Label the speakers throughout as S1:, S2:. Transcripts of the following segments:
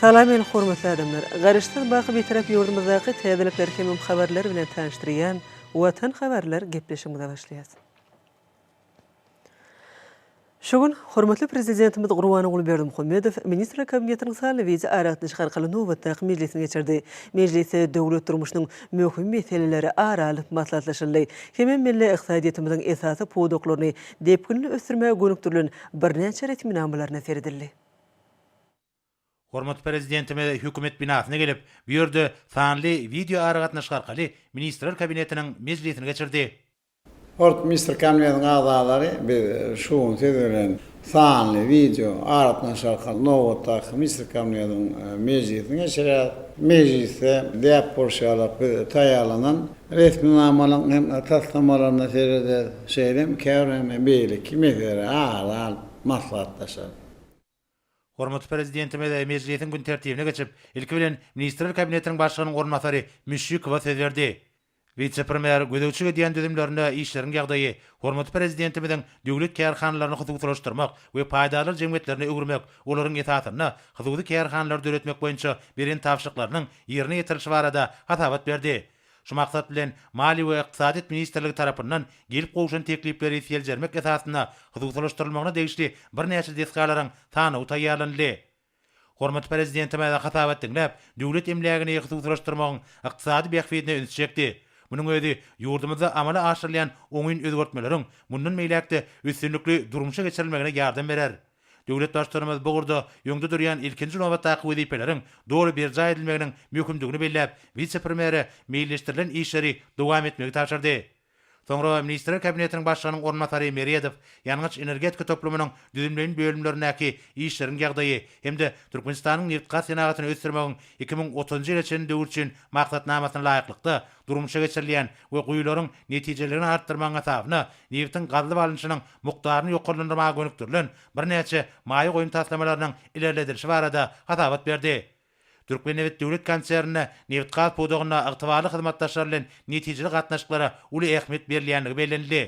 S1: Salam el hormatly adamlar. Garaşsyz baky Bitarap ýurdumyzdaky täzelikler hemem habarlar bilen tanyşdyrýan Watan habarlar gepleşigimize başlaýas. Şu gün hormatly Prezidentimiz Gurbanguly Berdimuhamedow Ministrler Kabinetiniň sanly wideo aragatnaşyk arkaly nobatdaky mejlisini geçirdi. Mejlisde döwlet durmuşynyň möhüm meseleleri ara alnyp maslahatlaşyldy. Hemem milli ykdysadyýetimiziň esasy pudaklaryny depginli ösdürmäge gönükdirilen birnäçe resminamalaryna seredildi. Hormatly
S2: Prezidentimiz Hökümet binasyna gelip, bu ýerde sanly wideoaragatnaşyk arkaly Ministrler Kabinetiniň mejlisini geçirdi. Hortmy
S3: Mister Kabinetiň agzalary, biz şu gün siz bilen sanly wideo aragatnaşyk arkaly nobatdaky Ministrler Kabinetiň mejlisini geçirýäris. Mejlisde däp bolşy ýaly, biz taýýarlanan Resminamalaryň hem taslamalaryna serederis, şeýle hem käbir hem beýleki meselelere ara alyp maslahatlaşarys.
S2: Hormatly Prezidentimiz mejlisiň gün tertibine geçip, ilki bilen, Ministrler Kabinetiniň Başlygynyň orunbasary Müşşikowa söz berdi. Wise-premýer gözegçilik edýän düzümlerinde işleriň ýagdaýy, Hormatly Prezidentimiziň döwlet kärhanalaryny hususylaşdyrmak we paýdarlar jemgyýetlerine öwürmek, olaryň esasynda hususy kärhanalary döretmek boýunça beren tabşyryklarynyň ýerine ýetirilişi barada hasabat berdi. Şu maksat bilen, Maliýe we ykdysadyýet ministrligi tarapyndan gelip gowşan teklipleri seljermek esasynda hususylaşdyrylmagyna degişli birnäçe desgalaryň sanawy taýýarlanyldy. Hormatly Prezidentimiz hasabat diňläp, döwlet emlägini hususylaşdyrmagyň ykdysady bähbidine üns çekdi. Munuň özi ýurdumyzda amala aşyrylýan oňyn özgertmeleriň mundan beýläk-de üstünlikli durmuşa geçirilmegine ýardam berer. Döwlet Baştutanymyz bu ugurda öňde durýan ilkinji nobatdaky wezipeleriň doly berjaý edilmeginiň möhümdigini belläp, wise-premýere meýilleşdirilen işleri dowam etmegi tabşyrdy. Soňra Ministrler Kabinetiniň Başlygynyň orunbasary Meredow ýangyç-energetika toplumynyň düzümleýin bölümlerindäki işleriň ýagdaýy hem-de Türkmenistanyň nebitgaz senagatyny ösdürmegiň iki müň otuzynjy ýyla çenli döwür üçin maksatnamasyna laýyklykda durmuşa geçirilýän we guýularyň netijeliligini artdyrmagyň hasabyna nebitiň gazylyp alnyşynyň mukdaryny ýokarlandyrmaga gönükdirilen birnäçe maýa goýum taslamalarynyň ilerledilişi barada hasabat berdi. Türkmennebit döwlet konserninde nebitgaz pudagynda ygtybarly hyzmatdaşlar bilen netijeli gatnaşyklara uly ähmiýet berilýändigi bellenildi.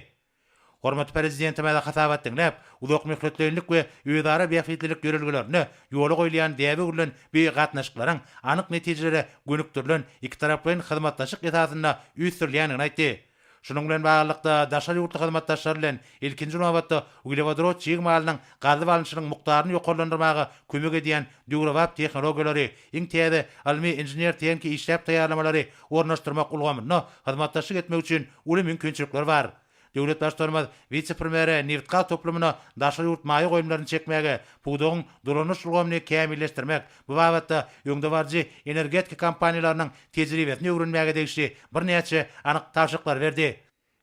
S2: Hormatly Prezidentimize hasabat diňläp, uzakmöhletleýinlik we özara bähbitlilik ýörelgelerinde ýola goýulýan däbe gurlan bu gatnaşyklaryň anyk netijelere gönükdirilen ikitaraplaýyn hyzmatdaşlyk esasynda ösdürilýändigini aýtdy. Şunuň bilen baglylykda, daşary ýurtly hyzmatdaşlar bilen, ilkinji nobatda, uglewodorod çig malynyň gazyp alnyşynyň mukdaryny ýokarlandyrmaga kömek edýän döwrebap tehnologiýalary, iň täze ylmy-inžener-tehniki işläp taýýarlamalary ornaşdyrmak ulgamynda hyzmatdaşlyk etmek üçin uly mümkinçilikler bar. Döwlet Baştutanymyz wise-premýere nebitgaz toplumyna daşary ýurt maýa goýumlaryny çekmäge, pudagyň dolanyş ulgamyny kämilleşdirmek, Bu babatda öňdebaryjy energetika kompaniýalarynyň tejribesini öwrenmäge degişli birnäçe anyk tabşyryklary berdi.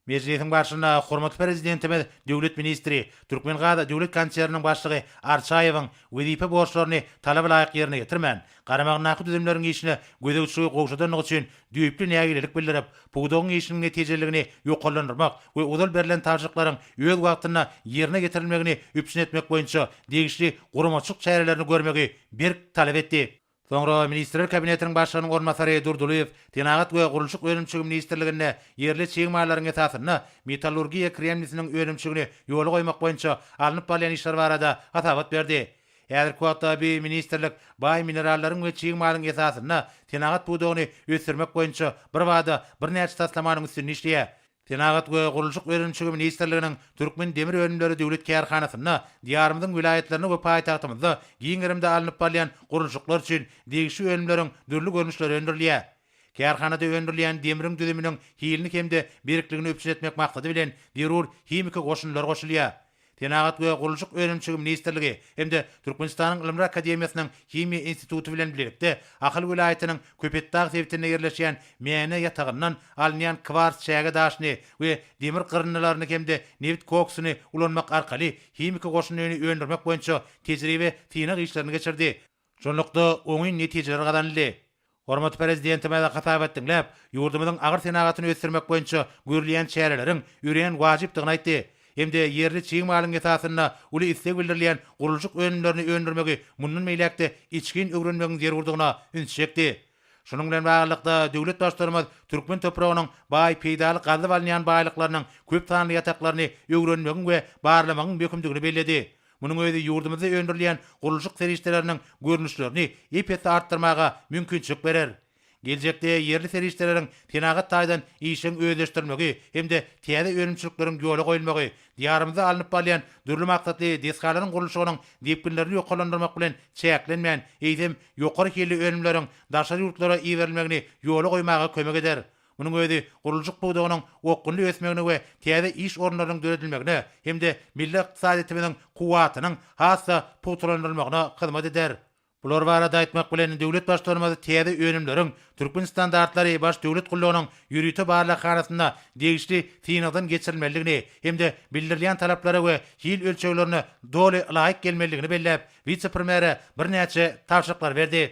S2: Mejlisiň barşynda hormatly Prezidentimiz döwlet ministri, Türkmengaz döwlet konserniniň başlygy Arçaýewiň wezipe borçlaryny talaba laýyk ýerine ýetirmän, garamagyndaky düzümleriň işine gözegçiligi gowşadandygy üçin düýpli nägilelik bildirip, pudagyň işiniň netijeliligini ýokarlandyrmak we ozal berlen tabşyryklaryň öz wagtynda ýerine ýetirilmegini üpjün etmek boýunça degişli guramaçylyk çärelerini görmegi berk talap etdi. Soňra Ministrler Kabinetiniň Başlygynyň orunbasary Durdylyýew Senagat we gurluşyk önümçiligi ministrliginde ýerli çig mallaryň esasynda metallurgiýa kremnisiniň önümçiligini ýola goýmak boýunça alnyp barylýan işler barada hasabat berdi. Häzirki wagtda bu ministrlik baý minerallaryň we çig malyň esasynda senagat pudagyny ösdürmek boýunça birbada birnäçe taslamanyň üstünde işleýär. Senagat we gurluşyk önümçigi ministrliginiň Türkmen demir önümleri döwlet kärhanasynda Diýarymyzyň welaýatlarynda we paýtagtymyzda giň gerimde alnyp barylýan gurluşyklar üçin degişli önümleriň dürli görnüşleri öndürilýär. Kärhanada öndürilýän demriň düzüminiň hilini hem-de berkligini üpjün etmek maksady bilen zerur himiki goşundylar goşulýar. Senagat we gurluşyk önümçiligi ministrligi hem-de Türkmenistanyň Ylymlar akademiýasynyň Himiýa instituty bilen bilelikde Ahal welaýatynyň Köpetdag sebitinde ýerleşýän Mäne ýatagyndan alynýan kwars çäge daşyny we demir gyryndylaryny hem-de nebit koksuny ulanmak arkaly himiki goşundyny öndürmek boýunça tejribe-synag işlerini geçirdi. Şunlukda, oňyn netijeler gazanyldy. Hormatly Prezidentimize hasabat diňläp, ýurdumyzyň agyr senagatyny ösdürmek boýunça görülýän çäreleriň örän wajypdygyny aýtdy hem-de ýerli çig malyň esasynda uly isleg bildirilýän gurluşyk önümlerini öndürmegi mundan beýläk-de içgin öwrenmegiň zerurdygyna ünsi çekdi. Şunuň bilen baglylykda, döwlet Baştutanymyz türkmen topragynyň baý peýdaly gazyp alynýan baýlyklarynyň köp sanly ýataklaryny öwrenmegiň we barlamagyň möhümdigini belledi. Munuň özi ýurdumyzda öndürilýän gurluşyk serişdeleriniň görnüşlerini ep-esli artdyrmaga mümkinçilik berer. Geljekde ýerli serişdeleriň senagat taýdan işjeň özleşdirilmegi hem-de täze önümçilikleriň ýola goýulmagy Diýarymyzda alnyp barylýan dürli maksatly desgalaryň gurluşygynyň depginlerini ýokarlandyrmak bilen çäklenmän, eýsem, ýokary hilli önümleriň daşary ýurtlara iberilmegini ýola goýmaga kömek eder. Munuň özi gurluşyk pudagynyň okgunly ösmegine we täze iş orunlarynyň döredilmegine hem-de milli ykdysadyýetimiziň kuwwatynyň has-da pugtalandyrylmagyna hyzmat eder. Bular barada aýtmak bilen, döwlet Baştutanymyz täze önümleriň Türkmen standartlary Baş döwlet gullugynyň ýörite barlaghanasynda degişli synagdan geçirilmelidigini hem-de bildirilýän talaplara we hil ölçeglerine doly laýyk gelmelidigini belläp, wise-premýere birnäçe tabşyryklary berdi.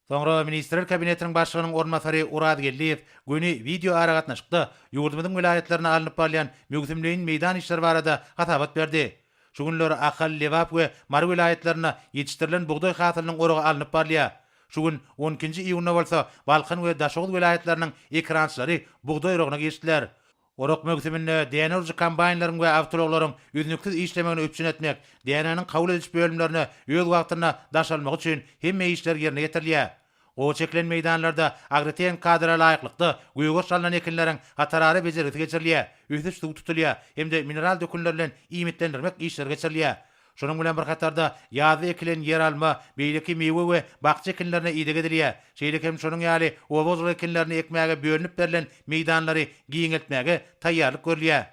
S2: Soňra Ministrler Kabinetiniň Başlygynyň orunbasary Oraz Geldiýew göni wideoaragatnaşykda ýurdumyzyň welaýatlarynda alnyp barylýan möwsümleýin meýdan işleri barada hasabat berdi. Şu günler Ahal, Lebap we Mary welaýatlarynda ýetişdirilen bugdaý hasylynyň oragy alnyp barylýar. Şu gün, on ikinji iýunda bolsa Balkan we Daşoguz welaýatlarynyň ekerançylary bugdaý oragyna girişdiler. Orak möwsüminde däne urujy kombaýnlaryň we awtoulaglaryň üznüksiz işlemegini üpjün etmek, dänäniň kabul ediş bölümlerine öz wagtynda daşalmagy üçin hemme işler ýerine ýetirilýär. Gowaça ekilen meýdanlarda agrotehnik kadara laýyklykda gögert alnan ekinleriň hatarara bejergisi geçirilýär, ösüş suw tutulýar hem-de mineral dökünler bilen iýmitlendirmek işleri geçirilýär. Şonuň bilen bir hatarda, ýazda ekilen ýeralma, beýleki miwe we bakja ekinlerine ideg edilýär. Şeýle hem şonuň ýaly oba-hojalyk ekinlerini ekmäge bölünip berlen meýdanlary giňeltmäge taýýarlyk görülýär.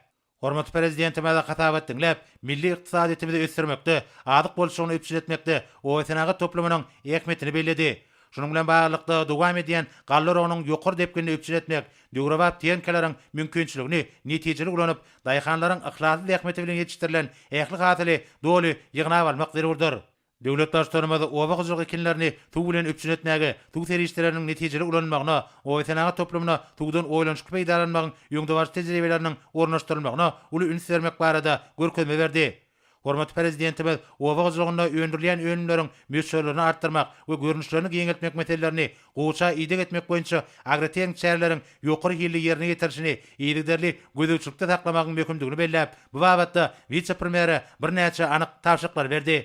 S2: Hormatly Prezidentimize hasabat diňläp, milli ykdysadyýetimizi ösdürmekde, azyk bolçulygyny üpjün etmekde obasenagat toplumynyň ähmiýetini belledi. Şunuň bilen baglylykda, dowam edýän galla oragynyň ýokary depginini üpjün etmek, döwrebap tehnikalryň mümkinçiligini netijeli ulanyp, daýhanlaryň yhlasly zähmeti bilen ýetişdirilen ähli hasyly doly ýygnap almak zerurdyr. Döwlet Baştutanymyz oba hojalyk ekinlerini suw bilen üpjün etmäge, suw serişdeleriniň netijeli ulanylmagyna, obasenagat toplumyna suwdan oýlanyşykly peýdalanmagyň öňdebaryjy tejribeleriniň ornaşdyrylmagyna uly üns bermek barada görkezme berdi. Hormatly Prezidentimiz oba hojalygynda öndürilýän önümleriň möçberlerini artdyrmak we görnüşlerini giňeltmek meselelerini gowaça ideg etmek boýunça agrotehniki çäreleriň ýokary hilli ýerine ýetirilişini yzygiderli gözegçilikde saklamagyň möhümdigini belläp, bu babatda wise-premýere birnäçe anyk tabşyryklary berdi.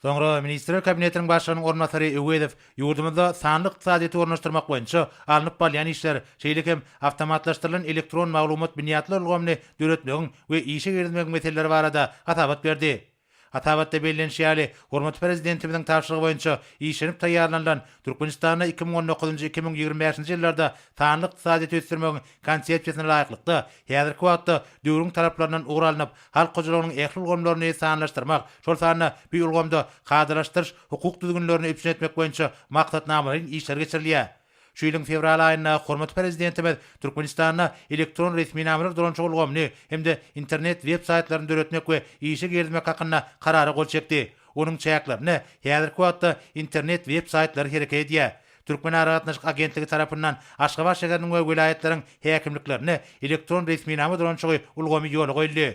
S2: Soňra Ministrler Kabinetiniň Başlygynyň orunbasary Öwezow ýurdumyzda sanly ykdysadyýeti ornaşdyrmak boýunça alnyp barylýan işler, şeýle hem awtomatlaşdyrylan elektron maglumat binýatlar ulgamyny döretmegiň we işe girizmegiň meseleleri barada hasabat berdi. Hasabatda bellenişi ýaly, hormatly Prezidentimiziň tabşyrygy boýunça işlenip taýýarlanylan Türkmenistanda iki müň on dokuzynjy iki müň ýigrimi bäşinji ýyllarda sanly ykdysadyýeti ösdürmegiň Konsepsiýasyna laýyklykda, häzirki wagtda döwrüň talaplaryndan ugur alnyp, halk hojalygynyň ähli ulgamlaryny sanlaşdyrmak, şol sanda bu ulgamda kadalaşdyryş hukuk düzgünlerini üpjün etmek boýunça maksatnamalaýyn işler geçirilýär. Şu ýylyň fewral aýynda hormatly Prezidentimiz Türkmenistanda elektron resminamalar dolanyşygy ulgamyny hem-de internet web saýtlaryny döretmek we işe girizmek hakynda Karara gol çekdi. Onuň çäklerinde häzirki wagtda internet web saýtlary hereket edýär. Türkmenaragatnaşyk agentligi tarapyndan Aşgabat şäheriniň we welaýatlaryň häkimliklerinde elektron resminama dolanşygy ulgamy ýola goýuldy.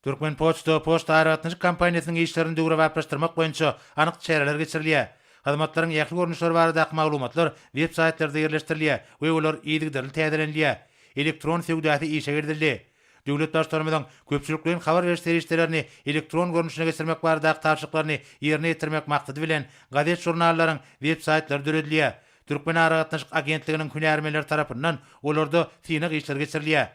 S2: Türkmenpoçta poçta aragatnaşyk kompaniýasynyň işlerini döwrebaplaşdyrmak boýunça anyk çäreler geçirilýär. Hyzmatlaryň ähli görnüşleri baradaky maglumatlar web-saýtlarda ýerleşdirilýär we olar yzygiderli täzelenilýär. Elektron söwdasy işe girizildi. Döwlet Baştutanymyzyň köpçülikleýin habar beriş serişdelerini elektron görnüşine geçirmek baradaky tabşyryklaryny ýerine ýetirmek maksady bilen, gazet-žurnallaryň web-saýtlary döredilýär. Türkmenaragatnaşyk agentliginiň hünärmenleri tarapyndan olarda synag işleri geçirilýär.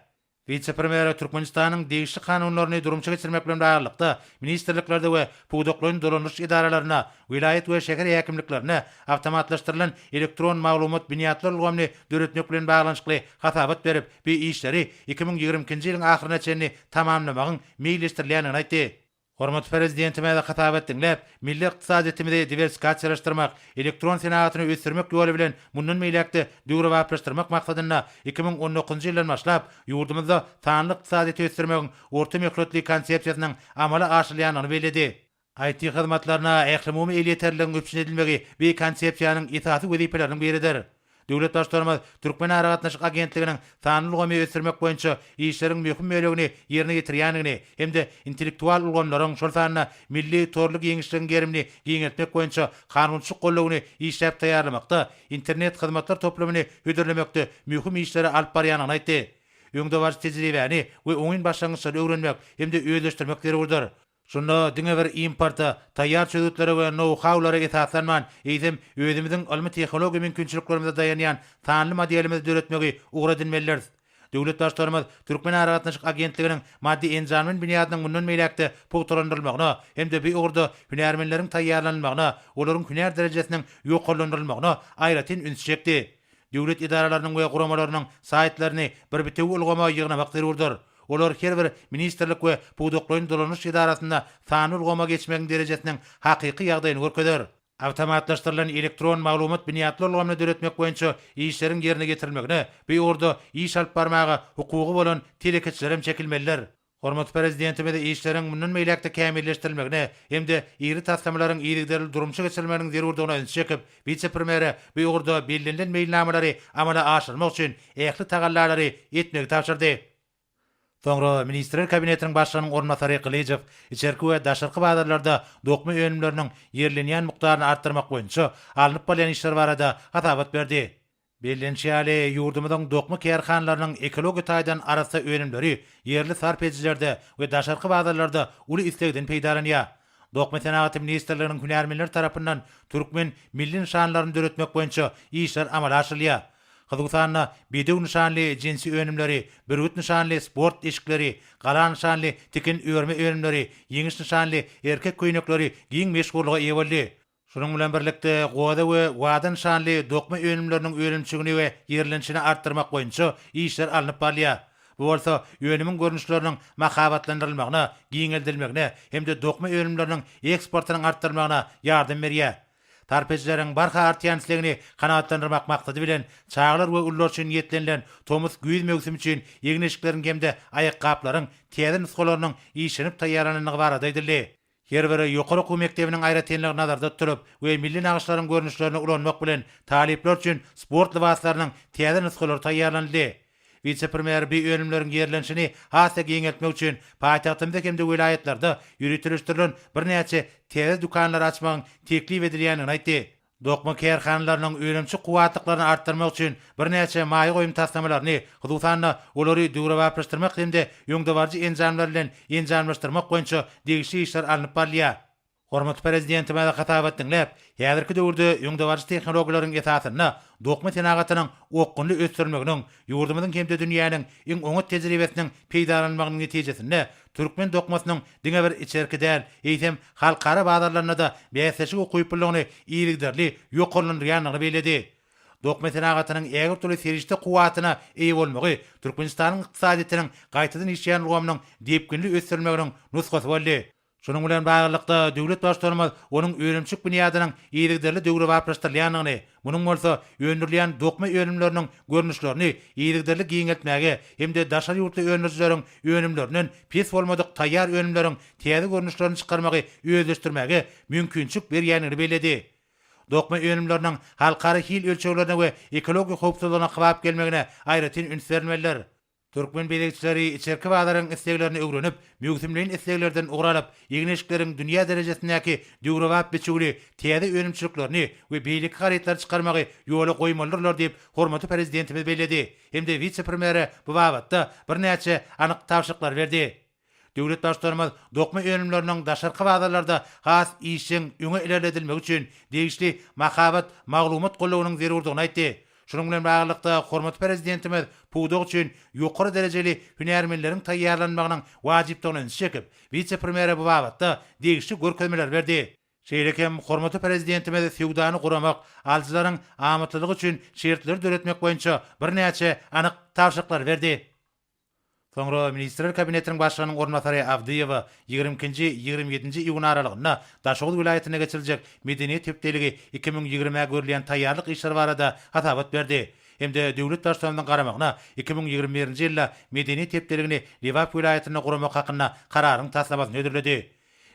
S2: Wise-premýere Türkmenistanyň degişli kanunlaryny durmuşa geçirmek bilen baglylykda, ministrliklerde we pudaklaýyn dolandyryş edaralarynda welaýat we şäher häkimliklerine awtomatlaşdyrylan elektron maglumat binýatlar ulgamyny döretmek bilen baglanyşykly hasabat berip, bu işleri iki müň ýigrimi ikinji ýylyň ahyryna çenli tamamlamagyň meýilleşdirilýändigini aýtdy. Hormatly Prezidentimiz hasabat diňläp, milli ykdysadyýetimizi diwersikasiýalaşdyrmak, elektron senagatyny ösdürmek ýoly bilen mundan beýläk-de döwrebaplaşdyrmak maksadynda iki müň on dokuzynjy ýyldan başlap ýurdumyzda sanly ykdysadyýeti ösdürmegiň orta möhletli konsepsiýasynyň amala aşyrylýandygyny belledi. IT hyzmatlaryna ählumumy elýeterliligiň üpjün edilmegi bu Konsepsiýanyň esasy wezipeleriniň biridir. Döwlet Baştutanymyz Türkmenaragatnaşyk agentliginiň sanly ulgamy ösdürmek boýunça işleriň möhüm bölegini ýerine ýetirýändigini hem-de intellektual ulgamlaryň, şol sanda milli torly giňişligiň gerimini giňeltmek boýunça kanunçylyk goldawyny işläp taýýarlamakda, Internet hyzmatlar toplumyny hödürlemekde möhüm işleri alyp barýandygyny aýtdy. Öňdebaryjy tejribäni we oňyn başlangyçlary öwrenmek hem-de özleşdirmek zerurdyr. Şunda diňe bir importa, taýýar çözgütlere we nou-haulara esaslanman, eýsem, özümiziň ylmy-tehnologiýa mümkinçiliklerimize daýanýan sanly modelimizi döretmegi ugur edinmelidiris. Döwlet Baştutanymyz Türkmenaragatnaşyk agentliginiň maddy-enjamlyn binýadynyň mundan beýläk-de pugtalandyrylmagyna hem-de bu ugurda hünärmenleriň taýýarlanylmagyna, olaryň hünär derejesiniň ýokarlandyrylmagyna aýratyn üns çekdi. Döwlet edaralarynyň we guramalarynyň saýtlaryny bir bitewi ulgama ýygnamak zerurdyr. Olar her bir ministrlik we pudaklaýyn dolanyş edarasynda sanly ulgama geçmegiň derejesiniň hakyky ýagdaýyny görkezer. Awtomatlaşdyrylan elektron maglumat binýatly ulgamyny döretmek boýunça işleriň ýerine ýetirilmegine bu ugurda iş alyp barmaga hukugy bolan telekeçiler hem çekilmelidir. Hormatly Prezidentimiz işleriň mundan beýläk-de kämilleşdirilmegine hem-de iri taslamalaryň yzygiderli durmuşa geçirilmeginiň zerurdygyna ünsi çekip, wise-premýere bu ugurda bellenilen meýilnamalary amala aşyrmak üçin ähli tagallalary etmegi tabşyrdy. Soňra Ministrler Kabinetiniň Başlygynyň orunbasary Gylyjow içerki we daşarky bazarlarda dokma önümleriniň ýerlenýän mukdaryny artdyrmak boýunça alnyp barylýan işler barada hasabat berdi. Bellenişi ýaly, ýurdumyzyň dokma kärhanalarynyň ekologiýa taýdan arassa önümleri ýerli sarp edijilerde we daşarky bazarlarda uly islegden peýdalanýar. Dokma senagaty ministrliginiň hünärmenleri tarapyndan türkmen milli nyşanlaryny döretmek boýunça işler amala aşyrylýar. Hususan-da, bedew nyşanly jinsi önümleri, bürgüt nyşanly sport eşikleri, gala nyşanly tikin-örme önümleri, ýeňiş nyşanly erkek köýnekleri giň meşhurlyga eýe boldy. Şunuň bilen birlikde, goza we wada nyşanly dokma önümleriniň önümçigini we ýerlenişini artdyrmak boýunça işler alnyp barylýar. Bu bolsa önümiň görnüşleriniň mahabatlandyrylmagyna, giňeldilmegine hem-de dokma önümleriniň eksportynyň artdyrylmagyna ýardam berýär. Sarp edijileriň barha artýan islegini kanagatlandyrmak maksady bilen, çagalar we ulular üçin niýetlenilen tomus-güýz möwsümi üçin egin-eşikleriň hem-de aýakgaplaryň täze nusgalarynyň işlenip taýýarlanandygy barada aýdyldy. Her bir ýokary okuw mekdebiniň aýratynlygy nazarda tutulyp we milli nagyşlaryň görnüşlerini ulanmak bilen talyplar üçin sport lybaslarynyň täze nusgalary taýýarlanyldy. Wise-premýer bi önümleriň ýerlenişini has-da giňeltmek üçin paýtagtymyzda hem-de welaýatlarda ýöriteleşdirilen birnäçe täze dükanlary açmagyň teklip edilýändigini aýtdy. Dokma kärhanalarynyň önümçi kuwwatlyklaryny artdyrmak üçin birnäçe maýa goýum taslamalaryny, hususan-da, olary döwrebaplaşdyrmak hem-de öňdebaryjy enjamlar bilen enjamlaşdyrmak boýunça degişli işler alnyp barylýar. Hormatly Prezidentimize hasabat diňläp, häzirki döwürde öňdebaryjy tehnologiýalaryň esasynda dokma senagatynyň okgunly ösdürilmeginiň, ýurdumyzyň hem-de dünýäniň iň oňat tejribesiniň peýdalanylmagynyň netijesinde Türkmen dokmasynyň diňe bir içerki däl, eýsem, halkara bazarlarynda-da bäsleşik ukyplylygyny yzygiderli ýokarlandyrýandygyny belledi. Dokma senagatynyň ägirt uly serişde kuwwatyna eýe bolmagy Türkmenistanyň ykdysadyýetiniň gaýtadan işleýän ulgamynyň depginli ösdürilmeginiň nusgasy boldy. Şunuň bilen baglylykda, döwlet Baştutanymyz onuň önümçilik binýadynyň yzygiderli döwrebaplaşdyrylýandygyny, Munuň bolsa öndürilýän dokma önümleriniň görnüşlerini yzygiderli giňeltmäge hem-de daşary ýurtly öndürijileriň önümlerinden pes bolmadyk taýýar önümleriň täze görnüşlerini çykarmagy özleşdirmäge mümkinçilik berýändigini belledi. Dokma önümleriniň halkara hil ölçeglerine we ekologiýa howpsuzlygyna kybap gelmegine aýratyn üns berilmelidir. Türkmen bezegçileri içerki bazaryň isleglerini öwrenip, möwsümleýin isleglerden ugur alyp, egin-eşikleriň dünýä derejesindäki döwrebap biçüwli täze önümçiliklerini we beýleki harytlary çykarmagy ýola goýmalydyrlar diýip, hormatly Prezidentimiz belledi hem-de wise-premýere bu babatda birnäçe anyk tabşyryklary berdi. Döwlet Baştutanymyz dokma önümleriniň daşarky bazarlarda has işjeň öňe ilerledilmegi üçin degişli mahabat maglumat gullugynyň zerurdygyny aýtdy. Şunuň bilen baglylykda, hormatly Prezidentimiz pudak üçin ýokary derejeli hünärmenleriň taýýarlanmagynyň wajypdygyna ünsi çekip, wise-premýere bu babatda degişli görkezmeleri berdi. Şeýle hem hormatly Prezidentimiz söwdany guramak, alyjylaryň amatlylygy üçin şertleri döretmek boýunça birnäçe anyk tabşyryklary berdi. Soňra Ministrler Kabinetiniň Başlygynyň orunbasary Abdyýewa ýigrimi ikinji, ýigrimi ýedinji iýun aralygynda Daşoguz welaýatynda geçiriljek Medeniýet hepdeligi iki müň ýigrimä görülýän taýýarlyk işleri barada hasabat berdi hem-de döwlet Baştutanymyzyň garamagyna iki müň ýigrimi birinji ýylda Medeniýet hepdeligini Lebap welaýatynda guramak hakynda Kararyň taslamasyny hödürledi.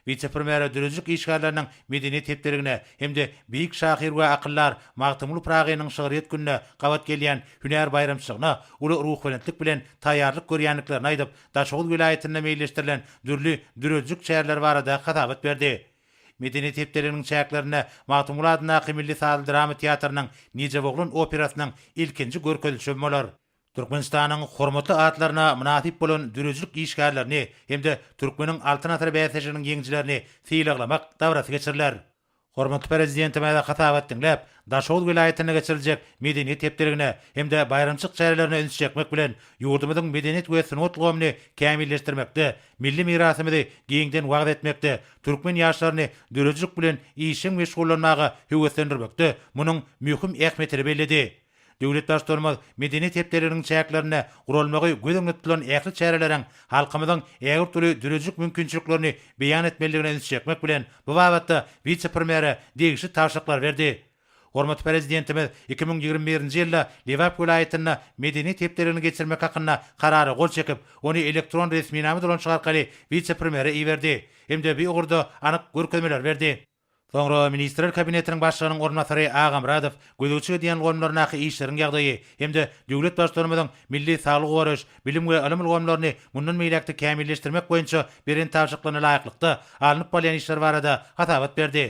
S2: Wise-premýere döredijilik işgärleriniň medeniýet hepdeligine hem-de beýik şahyr we akyldar Magtymguly Pyragynyň şygryýet gününe gabat gelýän hünär baýramçylygyna uly ruhubelentlik bilen taýýarlyk görýändiklerini aýdyp, Daşoguz welaýatynda meýilleşdirilen dürli döredijilik çäreleri barada hasabat berdi. Medeniýet hepdeliginiň çäklerinde Magtymguly adyndaky milli sazly-drama teatrynyň Nijeboglan operasynyň ilkinji görkezilişi hem bolar. Türkmenistanyň hormatly atlaryna mynasyp bolan döredijilik işgärlerini hem-de Türkmeniň Altyn asyry bäsleşiginiň ýeňijilerini sylaglamak dabarasy geçiriler. Hormatly Prezidentimize hasabat diňläp, Daşoguz welaýatynda geçiriljek Medeniýet hepdeligine hem-de baýramçylyk çärelerine üns çekmek bilen, ýurdumyzyň medeniýet we sungat ulgamyny kämilleşdirmekde, milli mirasymyzy giňden wagyz etmekde, türkmen ýaşlaryny döredijilik bilen işjeň meşgullanmaga höweslendirmekde munuň möhüm ähmiýetini belledi. Döwlet Baştutanymyz medeniýet hepdeliginiň çäklerinde guralmagy göz öňünde tutulan ähli çäreleriň halkymyzyň ägirt uly döredijilik mümkinçiliklerini beýan etmelidigine ünsi çekmek bilen, bu babatda wise-premýere degişli tabşyryklary berdi. Hormatly Prezidentimiz iki müň ýigrimi birinji ýylda Lebap welaýatynda Medeniýet hepdeligini geçirmek hakynda Karara gol çekip, ony elektron resminama dolanşyk arkaly wise-premýere iberdi hem-de bu ugurda anyk görkezmeleri berdi. Soňra Ministrler Kabinetiniň Başlygynyň orunbasary Agamyradow gözegçilik edýän ulgamlaryndaky işleriň ýagdaýy hem-de döwlet Baştutanymyzyň milli saglygy goraýyş, bilim we ylym ulgamlaryny mundan beýläk-de kämilleşdirmek boýunça beren tabşyryklaryna laýyklykda alnyp barylýan işler barada hasabat berdi.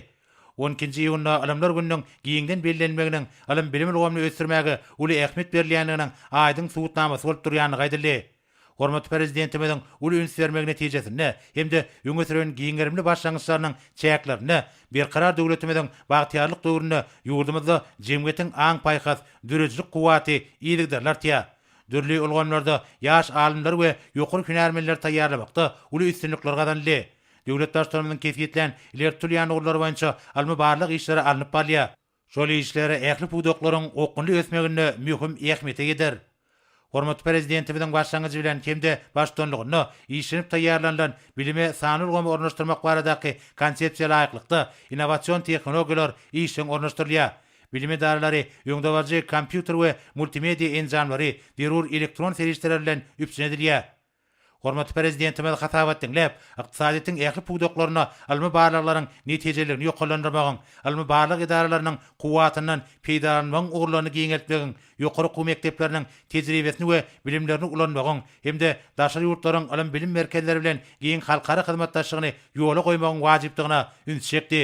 S2: On ikinji iýunda Ylymlar gününiň giňden bellenilmeginiň ylym-bilim ulgamyny ösdürmäge uly ähmiýet berilýändiginiň aýdyň subutnamasy bolup durýandygy aýdyldy. Hormatly Prezidentimiziň uly üns bermegi netijesinde hem-de öňe süren giň gerimli başlangyçlarynyň çäklerinde Berkarar döwletimiziň bagtyýarlyk döwründe ýurdumyzda jemgyýetiň aň-paýhas, döredijilik kuwwaty yzygiderli artýar. Dürli ulgamlarda ýaş alymlary we ýokary hünärmenleri taýýarlamakda uly üstünlikler gazanyldy. Döwlet Baştutanymyzyň kesgitlän ileri tutulýan ugurlary boýunça ylmy-barlag işleri alnyp barylýar. Şol işler ähli pudaklaryň okgunly ösmeginde möhüm ähmiýete ýeter. Hormatly Prezidentimiziň başlangyjy bilen hem-de baştutanlygynda işlenip taýýarlanylan Bilime sanly ulgamy ornaşdyrmak baradaky Konsepsiýa laýyklykda, innowasion tehnologiýalar işjeň ornaşdyrylýar. Bilim edaralary öňdebaryjy kompýuter we multimediýa enjamlary, zerur elektron serişdeler bilen üpjün edilýär. Hormatly Prezidentimiz hasabat diňläp, ykdysadyýetiň ähli pudaklarynda ylmy barlaglaryň netijeliligini ýokarlandyrmagyň, ylmy-barlag edaralarynyň kuwwatyndan peýdalanmagyň ugurlaryny giňeltmegiň, ýokary okuw mekdepleriniň tejribesini we bilimlerini ulanmagyň hem-de daşary ýurtlaryň ylym-bilim merkezleri bilen giň halkara hyzmatdaşlygyny ýola goýmagyň wajypdygyna üns çekdi.